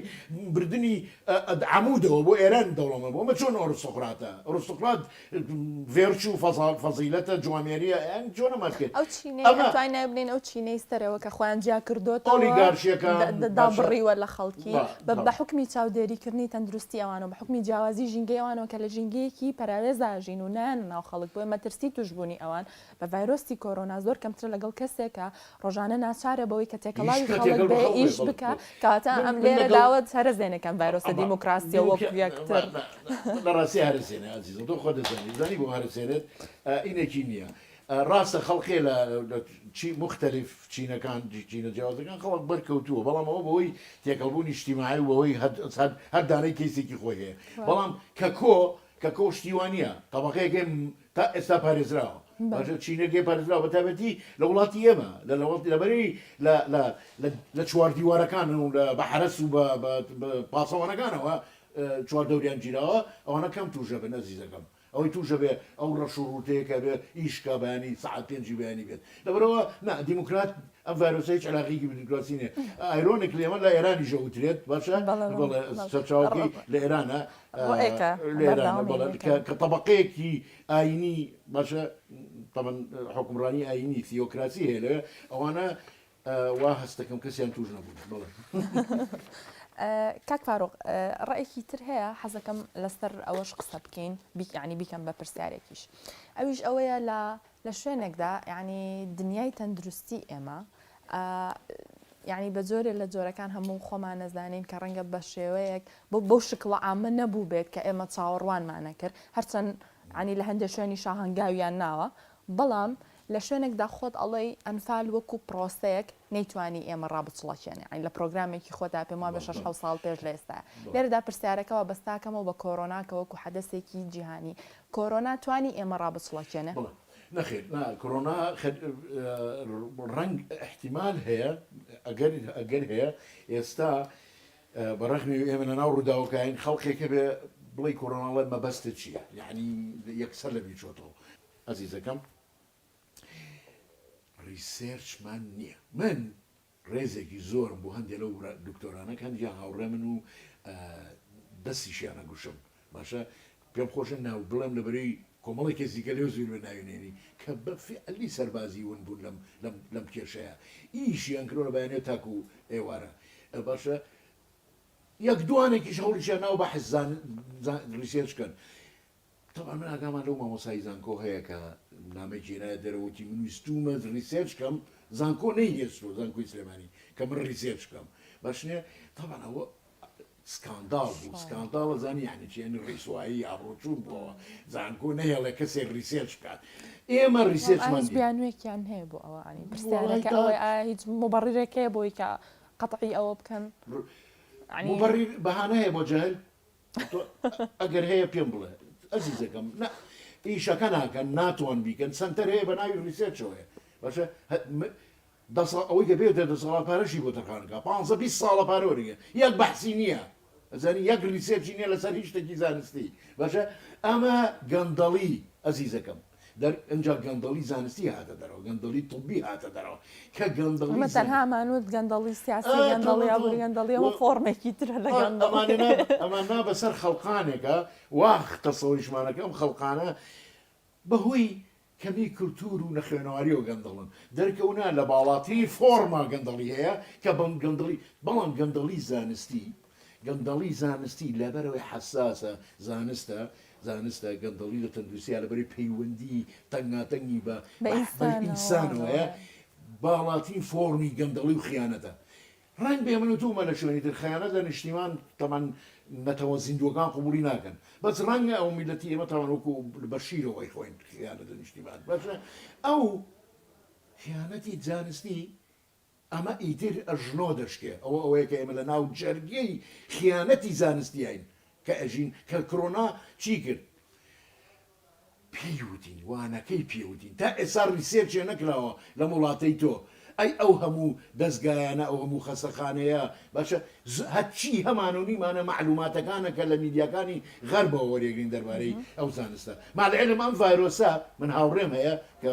بردنی عەمودەوە بۆ ئێران دەوڵەمەند بووە ئەمە چۆن ئۆرستوکراتە ئۆرستوکرات ڤێرچوو فەزا فەزیلەتە جوامێریە یان جۆنە ماسکێ ئەو چینەی ئەمە ئەتوانین ناوی بنێین ئەو چینەی سەرەوە کە خۆیان جیا کردۆتەوە ئۆلیگارشیەکان دە دە باشە دابڕیوە لە خەڵکی با بە بە بەڵێ حوکمی چاودێری کردنی تەندروستی ئەوانەوە بە حوکمی جیاوازی ژینگەی ئەوانەوە کە لە ژینگەیەکی پەراوێزا ئەژین و نایەنە ناو خەڵک بۆیە مەترسی توشبوونی ئەوان بە ڤایرۆسی کۆرۆنا زۆر کەمترە لەگەڵ کەسێک کە ڕۆژانە ناچارە بەوەی کە تێکەڵاوی خەڵک بێ ئیش بکا کەواتە ئەم لێرەداوە هەرە زێنەکەم ڤایرۆسە دیموکراسیە وەکو یەکتر لە ڕاستی هەرە زێنە ئازیزم تۆ خۆ دەزانی زانی بۆ هەرە زێنت ئینەکی نییە ڕاستە خەڵقێ لە چی مختلف چینەکان چینە جیاوازەکان خەڵک بەرکەوتووە بەڵام ئەوە بەوەی تێکەڵبوونی شتیماعی بەوەی هەر دانەی کەیسێکی خۆی هەیە بەڵام کە کۆ کە کۆشتیوانە تەبقەیەکێ تا ئێستا پارێزراوە باشە چینەکەی پارێزراوە بە تایبەتی لە وڵاتی ئێمە لە لە وڵاتی لەبەرەی لە لە لە چواردیوارەکان و لە بە حەرەس و بە پاسەوانەکانەوە چوار دەوریان گیراوە ئەوانە کەم تووشە بن ئەزیزەکەم ئەوەی تووشە بێ ئەو ڕەش و ڕووتەیەکە بێ ئیشکا بەیانی سعات پێنجی بەیانی بێت لەبەرەوە نا دیموکرات ئەم ڤایرۆسە هیچ علاقێکی بدیموکراسی نیە ئایرۆنیکلی ئەمە لە ئێرانیشە وترێت باشە بەڵێ سەرچاوەکەی لە ئێرانە لێرانە بەڵێ کە تەبەقەیەکی ئاینی باشە تەبەن حکومڕانی ئاینی تیۆکراسی هەیە لەوێ ئەوانە وا هەستەکەم کەسیان توش نەبوون بڵێ کاک فاروق ڕێکی تر هەیە حەزەکەم لەسەر ئەوەش قسە بکەین بیکانی بیکەم بە پرسیارێکیش ئەویش ئەوەیە لە لە شوێنێکدا یانی دنیای تەندروستی ئێمە یانی بە جۆرێ لە جۆرەکان هەموو خۆمان نەزانین کە ڕەنگە بە شێوەیەک بۆ بەو شکڵە ئامە نەبوو بێت کە ئێمە چاوەڕوانمانە کرد هەرچەند عنی لە هەندێک شوێنی شاهنگاویان ناوە بەڵام لە شوێنێکدا خۆت ئەڵەی ئەنفال وەکو پرۆسەیەک نەیتوانی ئێمە ڕابچڵەکێنێ ئەین لە پرۆگرامێکی خۆتا پێم وابە 6 ساڵ پێش لە ئێستا لێرەدا پرسیارەکەەوە بەستاکەمەوە بە کۆرۆناکە وەکو حەدەسێکی جیهانی کۆرۆنا توانی ئێمە ڕابچڵەکێنێ؟ بڵێ نەخێر نا کۆرۆنا ڕەنگ ئیحتیمال هەیە ئەگەر ئەگەر هەیە ئێستا بە ڕەخمی ئێمە لە ناو ڕووداوەکەین خەڵکێک هەبێ بڵێ کۆرۆنا بڵێ مەبەستت چییە یەعنی یەکسەر لە بیر چۆتەوە ئەزیزەکەم ڕیسێرچمان نییە من ڕێزێکی زۆرم بۆ هەندێ لەو برا دکتۆرانە کە هەندێکیان هاوڕێمن و دەستیشیان ئەگوشم باشە پێم خۆشە ناو بڵێم لە بەرەی کۆمەڵی کەس دیکە لێو زیربێ ناوی نێنی کە بە فیعلی سەربازی ون بوون لەم لەم لەم کێشەیە ئیشیان کردوە لە بەیانێ تاکوو ئێوارە باشە یەک دوانێکیش هەوڵیشیان ناوە بە حەزان زان ڕیسێرچ کەن تەبعەن من ئاگامان لەو مامۆستای زانکۆ هەیە کە نامەی کێنایە دەرەوە وتی من ویستوومە ریسێرچ کەم زانکۆ نەینێستووە زانکۆی سلێمانی کە من ریسێرچ کەم باش نیە تەبعەن ئەوە سکانداڵ بوو سکانداڵە زانی یعنی چی یعنی ڕیسوایی ئابڕۆچوون بووەوە زانکۆ نەهێڵێ کەسێک ریسێرچ بکات ئێمە ریسێرچمان بیانوێکیان هەیە بۆ ئەوە ئەنی پرسیارەکە ئەوەی ئایا هیچ مبڕیرێکەیە بۆی کە قەتعی ئەوە بکەن ڕ- عنی مبرر بەهانە هەیە بۆ جەهل تۆ ئەگەر هەیە پێم بڵێ ئەزیزەکەم نا ئیشەکە ناکەن ناتوان بیکەن سنتەر هەیە بە ناوی ریسێرچەوەیە باشە دەسا ئەوەی کە بێتە دەسەڵات پارەشی بۆ دەرخانەکە پ بیست ساڵە پارۆریە یەک بەحسی نییە ئەزانی یەک ریسێرچی نیە لەسەر هیچ شتێکی زانستی باشە ئەمە گەندەڵی ئەزیزەکەم دەر ئینجا گەندەڵی زانستی هاتە دەرەوە گەندەڵی طبی هاتە دەرەوە کە گەندەڵی ئەمە زەمینی تەنها ئەمانوت گەندەڵی سیاسی ئا گەندەڵی تەواو ئابوری تەواو گەندەڵی ئەمە و فۆڕمێکی ترە لە ئا ئەمانە گەندەڵی نا ئەمان نا بەسەر خەڵقانێکا وا تەسەوریشمانە کە ئەم خەڵقانە بە هۆی کەمی کلتور و نەخوێنەواریەوە گەندەڵن دەرکەونا لە باڵاترین فۆڕما گەندەڵی هەیە کە بەم گەندەڵی بەڵام گەندەڵی زانستی گەندەڵی زانستی لەبەرئەوەی حەساسە زانستە زانستە، گەندەڵی لە تەندروستیا لەبەرئەوەی پەیوەندی تەنگاتەنگی بە بە ئینسانەوەیە باڵاترین فۆڕمی گەندەڵی و خیانەتە. ڕەنگبێ من و تۆ و مەلا شوێنی تر خیانەت لە نیشتیمان تەبعەن نەتەوە زیندووەکان قبوڵی ناکەن بەس ڕەنگە ئەو میللەتی ئێمە تەبعەن وەکو بە شیرەوە ئەیخۆین خیانەت لە نیشتیمان باشە ئەو خیانەتی زانستی ئەمە ئیتر ئەژنۆ دەشکێ، ئەوە ئەوەیە کە ئێمە لە ناو جەرگی خیانەتی زانستیین کە ئەژین، کە کرۆنا چی کرد؟ پێی وتین، وانەکەی پێ وتین، تا ئێستا ریسێرچێ نەکراوە لەم وڵاتەی تۆ، ئەی ئەو هەموو دەزگایانە، ئەو هەموو خەستەخانەیە، باشە هەرچی هەمان و نیمانە مەعلووماتەکانە کە لە میدیاکانی غەربەوە وەریەگرین دەربارەی ئەو زانستە، مع العلم ئەم ڤایرۆسە من هاوڕێم هەیە کە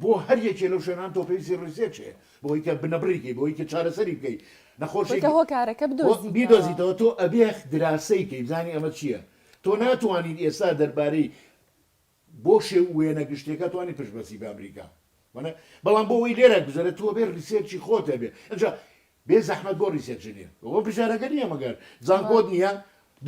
بۆ هەر یەکێ لەو شوێنان تۆ پێویستی ڕیسێرچ هەیە بۆی کە بنەبڕی کەی بۆی کە چارەسەری بکەی نەخۆشی کە هۆکارەکە بدۆزیتەوە بیدۆزیتەوە تۆ ئەبێ دراسەی کەی بزانی ئەمە چیە تۆ ناتوانیت ئێستا دەربارەی بۆ شێ وێنە گشتێکە توانی پشت بەسی بە ئەمریکا وەە بەڵام بۆ ئەوی لێرە گوزەرە تۆ بێ ڕیسێرچی خۆتە بێ ئەجا بێ زەحمەت بۆ ڕیسێرچ نیە ئەوە فشارەکە نیە مەگەر زانکۆت نیە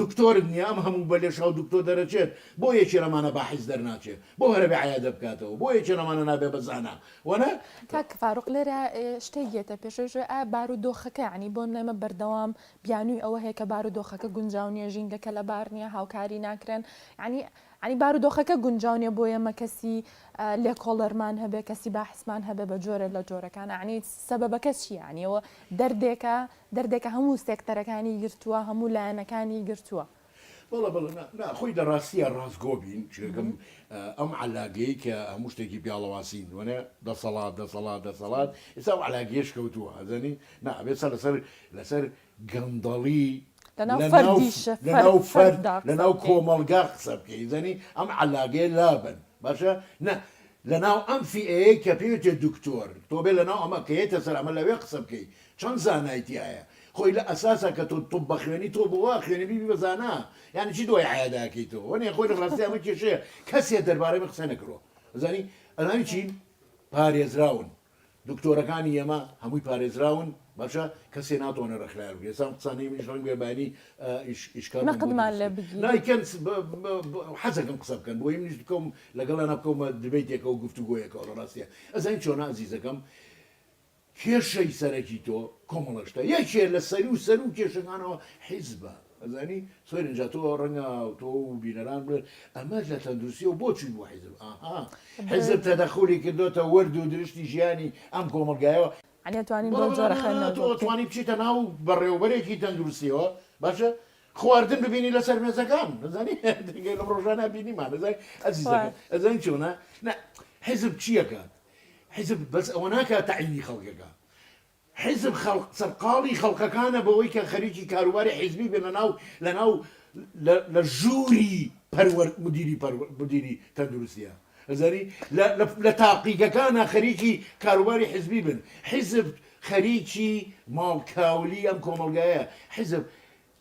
دکتۆرت نیە ئەم هەموو بە لێشاو دکتۆر دەرەچێت بۆ یەکێ لەمانە بە حیز دەرناچێ بۆ هەرە بێ عەیادە بکاتەوە بۆ یەکێ لەمانە نابێ بە زانا وەنە کاک فاروق لێرە شتێک یەتە پێشێش ئا بارو دۆخەکە یعنی بۆ نەمە بەردەوام بیانوی ئەوە هەیە کە بارو دۆخەکە گونجاو نیە ژینگەکە لەبار نیە هاوکاری ناکرێن یعنی یانی بارودۆخەکە گونجاو نیە بۆ ئێمە کەسی لێکۆڵەرمان هەبێ کەسی باحسمان هەبێ بە جۆرە لە جۆرەکان عنی سەبەکە چیانی ئەوە دەردێکە دەردێکە هەموو سێکتەرەکانی گرتووە هەموو لایەنەکانی گرتووە. بەڵێ بەڵێ نا نا خۆی دە ڕاستیە ڕاستگۆ بین چێگم ئەم عەلاگەی کە هەموو شتێکی پیاڵەواسین دوەێ دەسەڵات دەسەڵات دەسەڵات ئێستا ئەو عەلاگەیەش کەوتووە ئەزانی نا ئەبێ سەر لەسەر لەسەر گەندەڵی لەناو لەناو فەرد لەناو کۆمەڵگا قسە بکەی ئیزەنی ئەم عەلاگەیە لابەن باشە نە لەناو ئەم فیئەیەی کە پێی وتێ دکتۆر تۆ بێ لەناو ئەمە کە یەتە سەر ئەمە لەوێ قسە بکەی چەند زانای تیایە خۆی لە ئەساسا کە تۆ طب بەخوێنی تۆ بۆ وا خوێنی بیبی بە زانا یانی چی دوای عەیا داکەیتەوە وەنێ خۆی لە ڕاستی ئەمە کێشەیە کەسێ دەربارەی من قسە نەکرۆ ئەزانی ئەزانی چین پارێزراون دکتۆرەکانی ئێمە هەمووی پارێزراون باشە کەسێ ناتوانێ ڕێکخراوێ بگرێ سام قسانەی منیش ڕەنگ بێ بەینی ئیش ئیش کار بوون بۆ نەقدمان لێ دروستکرد. بگیرێ. نا کەن س- ب- ب- ب- حەزەکەم قسە بکەن بۆیە منیش بکەوم لەگەڵیانا بکەومە دیبەیتێکەوە گفتوگۆیەکەوە لە ڕاستیا ئەزانی چۆنە ئازیزەکەم کێشەی سەرەکی تۆ کۆمەڵەشتە یەکێ لە سەروو سەروو کێشەکانەوە حیزبە ئەزانی سۆرین جا تۆ ڕەنگە تۆ و بینەران بڵێن ئەمە لە تەندروستیەوە بۆ چووی بۆ حیزب؟ ئاها حیزب تەدەخولی کردۆتە وەرد و درشتی ژیانی ئەم کۆمەڵگایەوە. یانی ئەتوانین بەو جۆرە خوێندنەوە بکەین؟ تۆ ئەتوانی بچیتە ناو بەڕێوەبەرێکی تەندروستیەوە باشە خواردن ببینی لەسەر مێزەکان ئەزانی دەگەی لەم ڕۆژانە بینیمان ئەزانی ئەزیزەکە ئەزانی چۆنە نا حیزب چیەکات حیزب بەس ئەوە ناکات تەعینی خەڵکەکە حیزب خەڵق سەرقاڵی خەڵقەکانە بەوەی کە خەریکی کاروباری حیزبی بێنە ناو لە ناو لە لە ژووری پەروەر مدیری پەروە مدیری تەندروستیە ئەزانی لە لە لە تاقیگەکانە خەریکی کاروباری حیزبی بن حیزب خەریکی ماڵ کاولی ئەم کۆمەڵگایە حیزب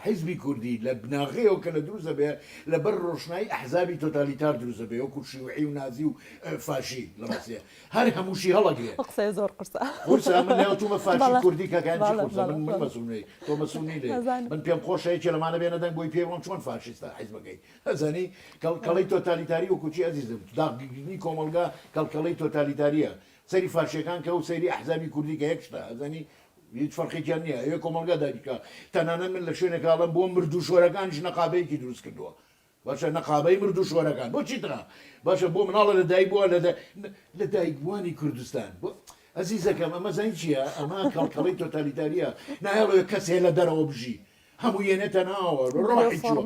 حیزبی کوردی لە بناغەیەوە کە لە دروست دەبێ لە بەر ڕۆشنایی ئەحزابی تۆتالیتار دروست دەبێ وەکوو شیوعی و نازی و فاشی لە ڕاستێ هەر هەمووشی هەڵەگرێ. ئەو قسەیە زۆر قورسە. قورسە من ناوتومە فاشی کوردی کاکەیان چی قورسە من من مەسوونەی تۆ مەسوونی لێ من پێم خۆشە یەکێ لەمانە بێنە دەنگ بۆی پێی بڵێم چۆن فاشیستە حیزبەکەی ئەزانی کەڵکەڵەی تۆتالیتاری وەکوو چی ئەزیزم داغگرتنی کۆمەڵگا کەڵکەڵەی تۆتالیتارییە سەیری فاشییەکان کە و سەیری ئەحزابی کوردی کە یەک شتە ئەزانی هیچ فەرقێکیان نیە ئەوێ کۆمەڵگا داگیر کا تەنانەت من لە شوێنێکا ئەڵێم بۆ مردوو شۆرەکانیش نەقابەیەکی دروست کردووە باشە نەقابەی مردوو شۆرەکان بۆ چی تەنها باشە بۆ مناڵە لە دایک بووە لە لە دایک بووانی کوردستان بۆ ئەزیزەکەم ئەمە زانین چییە ئەمە کەڵکەڵی تۆتالیتاریە نایڵێ کەسێ لە دەرەوە بژی هەموو یەنێتە ناوە ڕۆحی چوە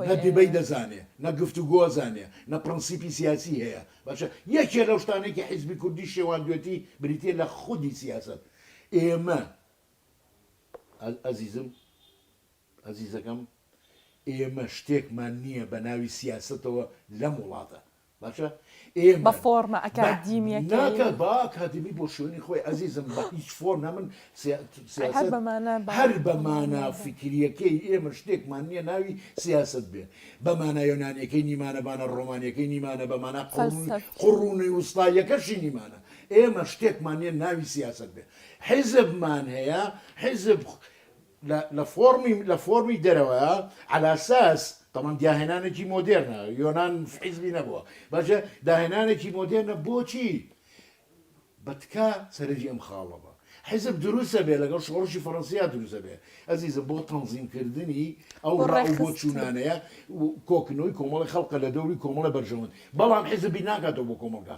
نەدیبەی دەزانێ نە گفت و گۆزانێ نە پرەنسیپی سیاسی هەیە باشە یەکێ لەو شتانێکی حیزبی کوردی شێواندوێتی بریتە لە خودی سیاست ئێمە، ئەزیزم، ئەزیزەکەم، ئێمە شتێکمان نییە بە ناوی سیاسەتەوە لەم وڵاتە. باشە؟ ئێمە، بە فۆرمە ئەکادیمییەکەی. ناکات، با ئەکادیمی بۆ شوێنی خۆی، ئەزیزم، بە هیچ فۆرمە من سیاسەت. هەر بە مانا. هەر بە مانا فیکرییەکەی، ئێمە شتێکمان نییە ناوی سیاسەت بێت. بە مانا یۆنانییەکەی نیمانە، بە مانا ڕۆمانییەکەی نیمانە، بە مانا قوڕوونی وستاییەکەشی نیمانە. ئێمە شتێکمان نیە ناوی سیاسەت بێ حیزبمان هەیە حیزب لە لە فۆڕمی لە فۆڕمی دەرەوەە عەلاساس تەمان دیاهێنانێکی مۆدێرنە یۆناان حیزبی نەبووە باشە داهێنانێکی مۆدێرنە بۆچی بەتکا سەرنجی ئەم خاڵە بە حیزب دروستە بێ لەگەڵ شۆڕشی فەڕەنسیا دروزە بێ ئەزیزم بۆ تەنزیمکردنی ئەو ڕاو بۆ چوونانەیە کۆکنەوەی کۆمەڵی خەڵکە لە دەوری کۆمەڵە بەرژەوەند بەڵام حیزبی ناکاتەوە بۆ کۆمەلگا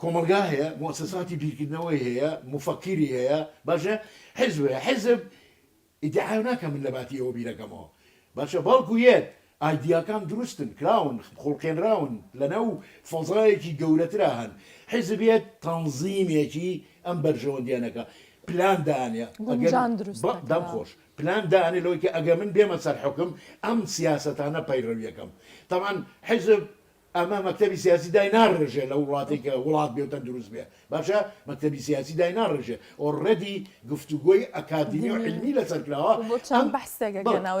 کۆمەڵگا هەیە، موسەساتی بیرکردنەوەی هەیە، موفەکیری هەیە، باشە، حیزب هەیە، حیزب ئیدعا ناکەم من لەباتی ئەوە بیرەکەمەوە، باشە، بەڵکو یەت ئایدیاکان دروستن کراون، خوڵقێنراون، لەناو فەزایەکی گەورەترا هەن، حیزب یەت تەنزیمێکی ئەم بەرژەوەندیانەکە پلان دانێ، ئەگەر، دەم خۆش، پلان دانێ لەوەی کە ئەگەر من بێمە سەر حوکم ئەم سیاسەتانە پەیڕەوی ئەکەم، تەبعەن حیزب ئەمە مەکتەبی سیاسی دای ناڕێژێ لە وڵاتێک کە وڵات بێ و تەندروست بێ باشە مەکتەبی سیاسی دای ناڕێژێ ئۆڕێدی گفتوگۆی ئەکادیمی و علمی لەسەر کراوە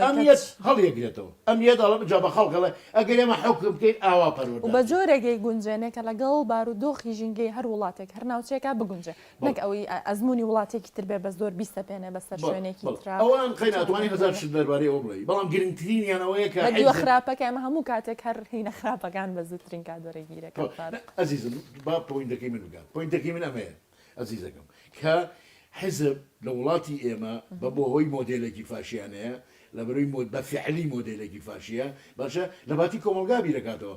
ئەم یەت هەڵیەگرێتەوە ئەم یەت ئەڵێ جا بە خەڵک ئەڵێ ئەگەر ئێمە حوکم بکەین ئاوا پەروەردە بە جۆرێگەی گونجێنێ کە لەگەڵ بارودۆخی ژینگەی هەر وڵاتێک هەر ناوچەیەکا بگونجێ نەک ئەوەی ئەزموونی وڵاتێکی تر بێ بە زۆر بیسەپێنێ بەسەر شوێنێکی ترا. ئەوان قەی ناتوانی هەزار شت دەربارەی ئەو بڵێی بەڵام گرنگترینیان ئەوەیە کە. بە دیوە خراپەکە ئێمە هەموو کاتێک هەر هینە خراپەکان بە زووترین کات وەرە گیرەکەن تارق. ئەزیزم با پۆینتەکەی من بگات پۆینتەکەی من ئەمەیە ئەزیزەکەم کە حیزب لە وڵاتی ئێمە بە بۆ هۆی مۆدێلێکی فاشیانەیە لەبەروی مۆد بە فعلی مۆدێلێکی فاشیە باشە لە باتی کۆمەڵگا بیرەکاتەوە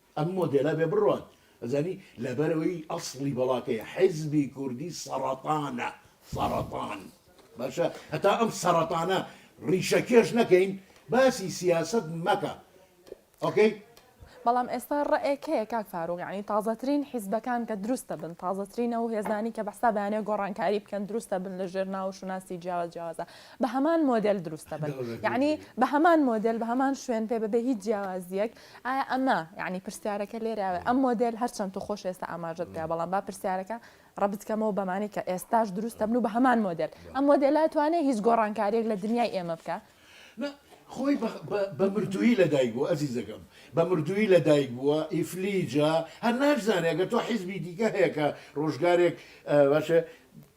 ئەم مۆدێلە بێ بڕوات ئەزانی لەبەرەوەی ئەسڵی بەڵاکەیە حیزبی کوردی سەڕەتانە سەڕەتان باشە هەتا ئەم سەڕەتانە ڕیشە کێش نەکەین باسی سیاست مەکە ئۆکەی بەڵام ئێستا ڕێک هەیە کاک فاروق یعنی تازەترین حیزبەکان کە دروستە بن تازەترینە و هێزانی کە بەستا بەیانێ گۆڕانکاری بکەن دروستە بن لە ژێر ناو شوناسی جیاواز جیاوازە بە هەمان مۆدل دروستە بن یعنی بە هەمان مۆدل بە هەمان شوێن پێ بەبێ هیچ جیاوازیەک ئایا ئەمە یعنی پرسیارەکە لێراوێ ئەم مۆدل هەرچەند تو خۆش ئێستا ئاماژت پێ بەڵام با پرسیارەکە ڕبتکەمەوە بەمانی کە ئێستاش دروستە بن و بە هەمان مۆدل ئەم مۆدللا توانێ هیچ گۆڕانکاریێک لە دنیای ئێمە بکە خۆی بە مردووی لەدایک بوو ئەزیزەکەم بە مردووی لەدایک بووە ئیفلیجە هەر ناشزانێگە تۆ حیزبی دیکە هەیە کە ڕۆژگارێک باشە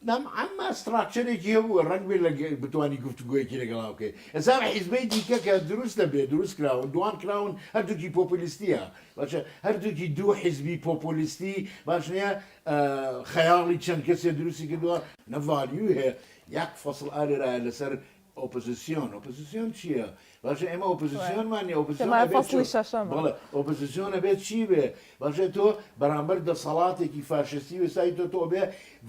نام عەمما ستراکچەرێکی هەبووە ڕەنگ بێ لە بتانی گفتوگویەکی لەگەڵا بکەیت ئەزار حیزبەی دیکە کە دروست دەبێت دروست کراون دوان کراون هەردووکی پۆپلیستیە باشە هەردووکی دوو حیزبی پۆپۆلیستی باش نیە خەیاڵی چەند کەسێ دروستی کردووە نەڤالیو هەیە یاک فەسل ئالێرایە لەسەر ئۆپزسیۆن ئۆپزسیۆن چیە باشە ئێمە ئۆپزسیۆنمان نیە ئۆپزسیۆن ئەبێ چ بەڵێ ئۆپزسیۆن ئەبێ چی بێ باشە تۆ بەرامبەر دەسەڵاتێکی فاشستی وێستای تۆ تۆ بێ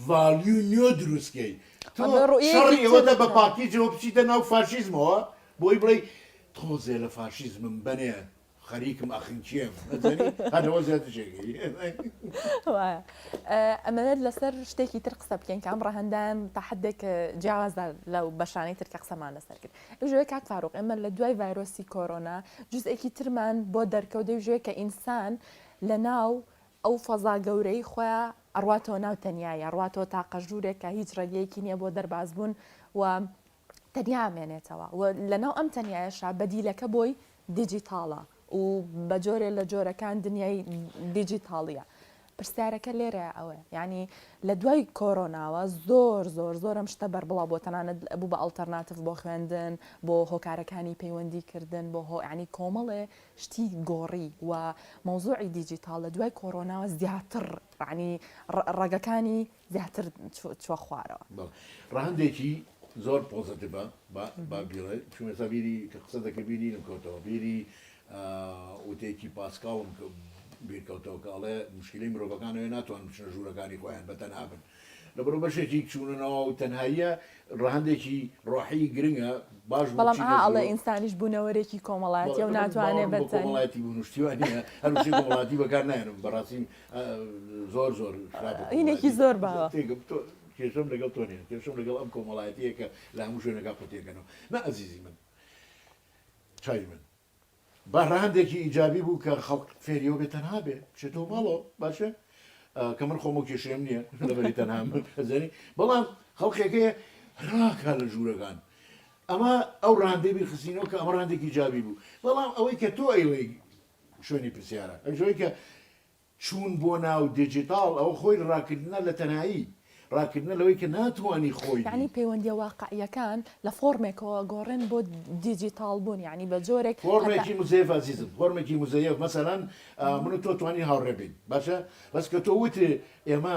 ڤالیو نیۆ دروستکەی تۆ شەڕی ئێوەتە بە پاکیجەوە بچیتە ناو فاشیزمەوە بۆی بڵێ تۆزێ لە فاشیزمم بەنێ خەریکم ئەخن کێم ئەزانی هەر لەوە زیاتر جێگەی. وایە ئەمەوێت لەسەر شتێکی تر قسە بکەین کە ئەم ڕەهەندان تا حدێک جیاوازە لە بەشانەی تر کە قسەمان لەسەر کرد ئەژێ کاک فاروق ئێمە لە دوای ڤایرۆسی کۆرۆنا جزئێکی ترمان بۆ دەرکەوت دەژێ کە ئینسان لە ناو ئەو فەزا گەورەی خۆیان ئەڕاتەوە ناو تەنیایی ئەڕاتەوە تاقە ژوورێکە هیچ ڕێگەیەکی نییە بۆ دەربازبوون و تەنیا ئەمێنێتەوە و لەناو ئەم تەنیایەشا بەدیلەکە بۆی دیجیتاڵە و بە جۆرێ لە جۆرەکان دنیای دیجیتاڵیە. پرسیارەکە لێرەیە ئەوەیە یانی لە دوای کۆرۆناوە زۆر زۆر زۆر ئەم شتە بەربڵاو بۆ تەنانەت بوو بە ئەڵتەرناتڤ بۆ خوێندن بۆ هۆکارەکانی پەیوەندی کردن بۆ هۆ یانی کۆمەڵێ شتی گۆڕی و مەوزوعی دیجیتاڵ لە دوای کۆرۆناوە زیاتر ڕعنی ڕەگەکانی زیاتر چوە خوارەوە. ڕەهەندێکی زۆر پۆزەتیڤە با بیڵێ چون ئێستا بیری کە قسە دەکەی بیری لێم کەوتەوە بیری وتەیەکی پاسکاڵم بیرکەوتەوە کە ئەڵێ مشکلی مرۆڤەکان ئەوێ ناتوان بچنە ژوورەکانی خۆیان بە تەنها بن لەبەرو بەشێکی چوونەوە و تەنهاییە ڕەهندێکی ڕۆحی گرنگە باش بەڵام ئاڵە ئینسانیش بوونەوەرێکی کۆمەڵایەتی و ناتوانێت بە کۆمەڵایەتی بونشتیوانە هەروشی کۆمەڵاتی بەکار نایەنم بەڕاستی زۆر زۆر هینێکی زۆر باوە کێشم لەگەڵ تۆ نیە کێشم لەگەڵ ئەم کۆمەڵایەتیەکە لە هەموو شوێنەکە قوتیەکەنەوە نە ئەزیزی من چای من بەڕاندێکی ئیجابی بوو کە خەڵک فێریەوە بێ تەنها بێ بچێتەوە ماڵەوە باشە کە من خۆم و کێشێم نییە لەبەری تەنها زەنی بەڵام خەڵکێکەیە راکە لە ژوورەکان ئەمە ئەو ڕاندەی بیخستینەوە کە ئەمە ڕاندێکی جابی بوو بەڵام ئەوەی کە تۆ ئەیڵێ شوێنی پرسیارە ئەویش ئەوەی کە چوون بۆ ناو دیجیتاڵ ئەوە خۆی ڕاکردنە لە تەنایی، ڕاکردنە لەوەی کە ناتوانی خۆی بی. یەعنی پەیوەندییە واقعییەکان لە فۆڕمێکەوە گۆڕێن بۆ دیجیتاڵبوون یەعنی بە جۆرێک کە تا. فۆڕمێکی مزەیەف ئازیزم، فۆڕمێکی مزەیەف مەسەلەن من و تۆ توانین هاوڕێ بین باشە بەس کە تۆ وتت ئێمە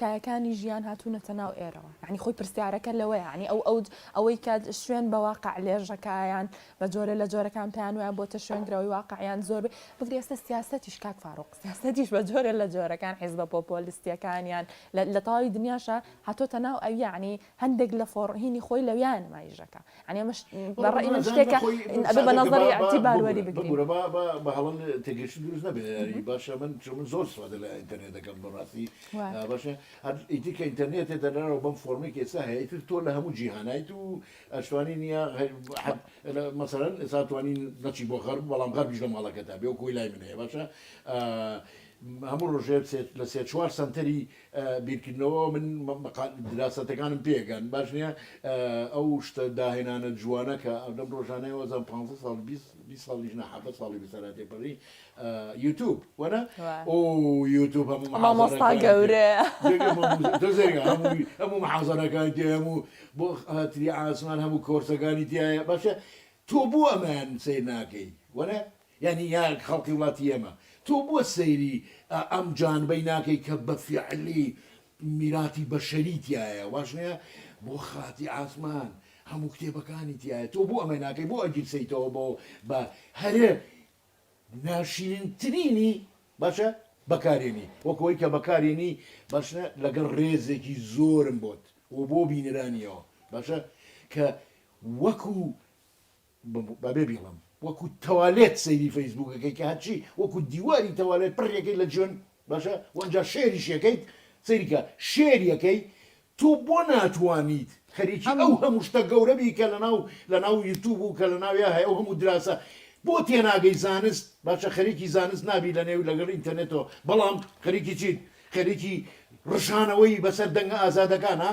کایەکانی ژیان هاتوونەتە ناو ئێرەوە یانی خۆی پرسیارەکە لەوەیە یانی ئەو ئەوج ئەوەی کە شوێن بە واقع لێژەکە یان بە جۆرە لە جۆرەکان پێیان وایە بۆتە شوێنگرەوەی واقع یان زۆر بێ بگرە ئێستە سیاسەتیش کاک فاروق سیاسەتیش بە جۆرە لە جۆرەکان حیزبە پۆپۆلیستیەکانیان لە لە تەواوی دنیاشە هاتۆتە ناو ئەوی یانی هەندێک لە فۆڕ هینی خۆی لەویایە نمایشدەکا یانی ئەمەش بە ڕای من شتێکە ئەبێ بە نەزەری ئیعتیبار وەری بگرین ببورە با با بە هەڵە تێگەیشتن دروست نەبێ یانی باشە من چون من زۆر سوادە لە ئینتەرنێت دەکەم بە ڕاستی وایە باشە هەر ئیدی کە ئینتەرنێتێ دەرەوە بەم فۆڕمی کە ئێستا هەیە ئیتر تۆ لە هەموو جیهانیت و ئەشتوانی نییە هەر حەد لە مەسەلەن ئێستا توانی نەچی بۆ غەرب بەڵام غەربیش لە ماڵەکەتا بێ وەکوی لای من هەیە باشە هەموو ڕۆژێ سێ لە سێ چوار سەنتەری بیرکردنەوە من دراسەتەکانم پێکەن باش نییە ئەو شتە داهێنانە جوانە کە ئەودەم ڕۆژانەی وەزان 15 ساڵ 20 ساڵیش نەحەفە ساڵی بسەرا تێپەڕی یوتوب وەە ئۆ یوتوب هەموو مامۆستا گەورە هەموو محازەرەکان تێ هەموو بۆ هاتری ئاسمان هەموو کۆرسەکانی تایە باشە تۆ بۆ ئەمان سیر ناکەی وەە یانی یا خەڵکی وڵاتی ئێمە. تۆ بۆ سەیری ئەم جانبەی ناکەی کە بە فیعلی میراتی بەشەری تیایە واش نیە؟ بۆ خاتی عاسمان هەموو کتێبەکانی تیایە تۆ بۆ ئەمە ناکەی بۆ ئەگیرسێیتەوە بۆ بە هەرە ناشیرینترینی باشە بەکارێنی وەک ئەوەی کە بەکارێنی باش نیە لەگەڵ ڕێزێکی زۆرم بۆت و بۆ بینەرانیەوە باشە کە وەکو بە بێ بیڵم وەکو تەوالێت سەیری فەیسبووکەکەی کە هەرچی وەکو دیواری تەوالێت پڕیەکەی لە جوێن باشە وەنجا شێریشەکەیت سەیریکە شێریەکەی تۆ بۆ ناتوانیت خەریکی ئەو هەموو شتە گەورە بی کە لەناو لەناو یوتوب و کە لە ناویا هەیە ئەو هەموو دراسە بۆ تێناگەی زانست باشە خەریکی زانست نابی لە نێو لەگەڵ ئینتەرنێتەوە بەڵام خەریکی چیت خەریکی ڕژانەوەی بەسەر دەنگە ئازادەکانە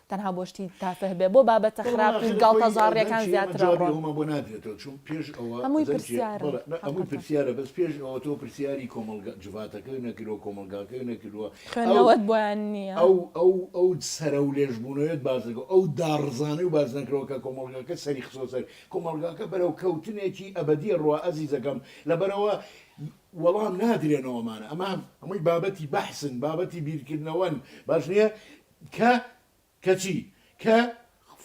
تەنها بۆ شتی تافه بێ بۆ بابەتە خراپ و گاڵتەجاڕیەکان زیاترە ڕۆن. جوابی ئەوەمان بۆ نادرێتەوە چون پێش ئەوە هەمووی پرسیارن حەقەتە. هەمووی پرسیارە بەس پێش ئەوە تۆ پرسیاری کۆمەڵگا جڤاتەکەوی نەکردوە کۆمەڵگاکەوی نەکردوە خوێندنەوەت بۆیان نیە. ئەو ئەو ئەو سەرەو لێژ بوونەوەیەت باس نەکردوە ئەو داڕزانەی و باس نەکردوە کە کۆمەڵگاکە سەری خستوە سەر کۆمەڵگاکە بەرەو کەوتنێکی ئەبەدیە ڕوا ئەزیزەکەم لەبەرئەوە وەڵام نادرێنەوە ئەمانە ئەمە هەمووی بابەتی بەحسن بابەتی بیرکردنەوەن باش نیە کە کە چی؟ کە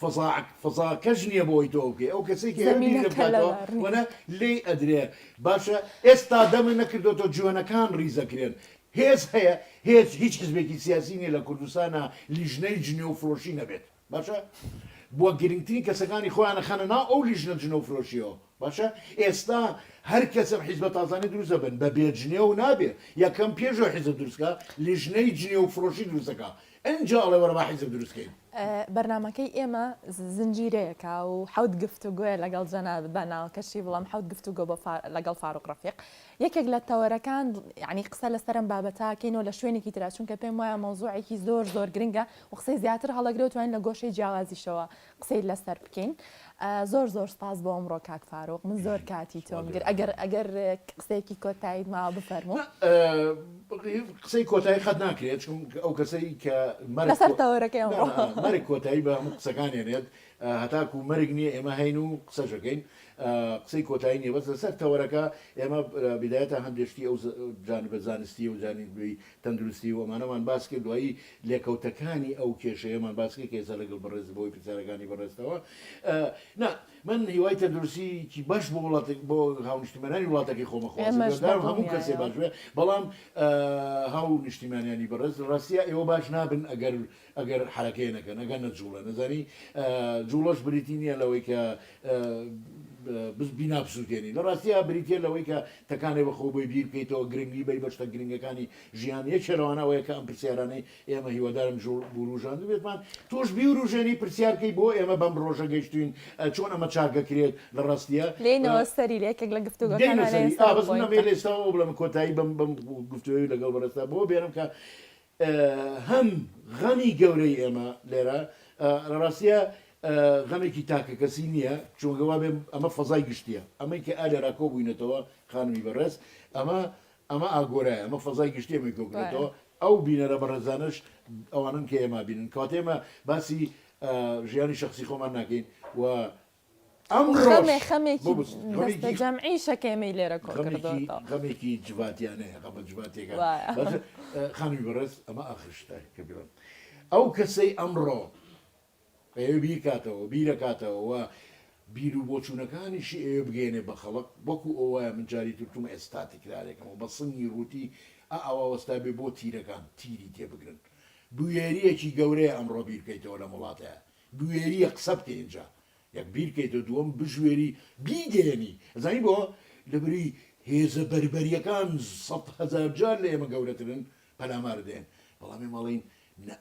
فەزا فەزاکەش نییە بۆی تۆ بکەی ئەو کەسێکی هەیە بیر لێ زەمینەکە بکاتەوە لەبار نییە. وەلا لێی ئەدرێ باشە ئێستا دەمت نەکردۆتەوە جوێنەکان ڕیزەکرێن هێز هەیە هێز هیچ حزبێکی سیاسی نییە لە کوردستانا لیژنەی جنێو فرۆشی نەبێت باشە بووە گرنگترین کەسەکانی خۆیان ئەخەنە ناو ئەو لیژنە جنێو فرۆشیەوە باشە ئێستا هەر کەسەم حیزبە تازانە دروست دەبن بە بێ جنێو نابێ یەکەم پێش ئەو حیزب دروست کا لیژنەی جنێو فڕۆشی دروست دەکا ئەنجا ئەڵێ وەرە با حیزب دروست کەین. بەرنامەکەی ئێمە زنجیرەیەکە و حەوت گفتوگۆیە لەگەڵ جەنابت با ناوەکەشی بڵێم حەوت گفتوگۆ بۆ فا لەگەڵ فاروق ڕەفیق یەکێک لە تەوەرەکان یەعنی قسە لەسەر ئەم بابەتە کەین و لە شوێنێکی ترا چونکە پێم وایە مەوزوعێکی زۆر زۆر گرنگە و قسەی زیاتر هەڵەگرە و توانین لە گۆشەی جیاوازیشەوە قسەی لەسەر بکەین زۆر زۆر سپاس بۆ ئەمڕۆ کاک فاروق من زۆر کاتی تۆم گر ئەگەر ئەگەر قسەیەکی کۆتاییت ماوە بفەرموو قسەی کۆتایی قەت ناکرێت چون ئەو کەسەی کە لەسەر تەوەرەکەی ئەمڕۆ نا، نا، مەرگ کۆتایی بە هەموو قسەکان هێنێت هەتاکو مەرگ نییە ئێمە هەین و قسەشەکەین قسەی کۆتایی نییە بەس لەسەر تەوەرەکە ئێمە بدایەتە هەندێک شتی ئەو جانبە زانستیە و جانبی تەندروستی و ئەمانەمان باس کرد دوایی لێکەوتەکانی ئەو کێشەیەمان باس کرد کە ئێستا لەگەڵ بەڕێز بۆی پرسیارەکانی بەڕێزتەوە نا من هیوای تەندروستی کی باش بۆ وڵاتێک بۆ هاونیشتیمانانی وڵاتەکەی خۆمە خۆزگە ئێمەش دام هەموو کەسێ باش بەدڵنیایەوە. بێ بەڵام هاو نیشتیمانیانی بەڕێز ڕاستە ئێوە باش نابن ئەگەر ئەگەر حەرەکەی نەکەن ئەگەر نەجوڵێن ئەزانی جوڵەش بریتی نییە لەوەی کە بینا بسووتێنی لە ڕاستیە بریتە لەوەی کە تەکانێ بە خۆ بۆی بیر بکەیتەوە گرنگی بی بەشتە گرنگەکانی ژیان یەکێ لەوانە ئەوەیە کە ئەم پرسیارانەی ئێمە هیوادارم جوڵ بوروژاند بێتمان تۆش بیوروژێنی پرسیارکەی بۆ ئێمە بەم ڕۆژە گەشتوین چۆن ئەمە چاکەکرێت لە ڕاستیە لێنەوە سەری لە یەکێک لە گفتوگەکان لە کۆتایی بم بم گفتوی لەگەڵ بەڕێستا بۆ بێنم کە هەم غەمی گەورەی ئێمە لێرە لە ڕاستیا غەمێکی تاکەکەسی نییە چونکە وا بێ ئەمە فەزای گشتیە ئەمەی کە ئالێرا کۆ بووینەتەوە خانمی بەڕێز ئەمە ئەمە ئاگۆرای ئەمە فەزای گشتی ئەمەی کۆکرێتەوە ئەو بینەرە بەڕێزانەش ئەوانن کە ئێمە بینن کاتێمە باسی ژیانی شخصی خۆمان ناکەین و ئەمڕۆش خەمێ خەمێکی ببوس دەست غەمێکی جەم عیشە کە ئێمەی لێرە کۆ غەمێکی کردۆتەوە غەمێکی جڤاتیانەیە غەمە جڤاتیەکان وایە بەس خانی بەڕێز ئەمە ئاخر شتە کە بیڵێم ئەو کەسەی ئەمڕۆ ئەیەوێ بیرکاتەوە بیرەکاتەوە و بیر و بۆچوونەکانیشی ئەوێ بگەێنێ بە خەڵک وەکو ئەو وایە من جاری تر توم ئێستا تکرارێکەوە بە سنگی ڕووتی ئا ئاوا وەستا بێ بۆ تیرەکان تیری تێ بگرن بوێریەکی گەورەیە ئەمڕۆ بیر بکەیتەوە لەم وڵاتەیە بوێریە قسە بکەی ئینجا یەک بیر کەیتەوە دووەم بژوێری بیگەیەنی ئەزانی بۆ لەبری هێزە بەربەریەکان سەد هەزار جار لە ئێمە گەورەترن پەلامارت دەیەن بەڵام ئێمە ئەڵێین نا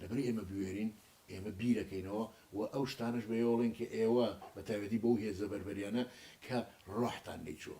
لەبری ئێمە بوێرین ئێمە بیرەکەینەوە و ئەو شتانەش بەێۆڵێن کە ئێوە بەتاوێتی بەو هێزە بەربەریانە کە ڕۆحتان لێی چووە.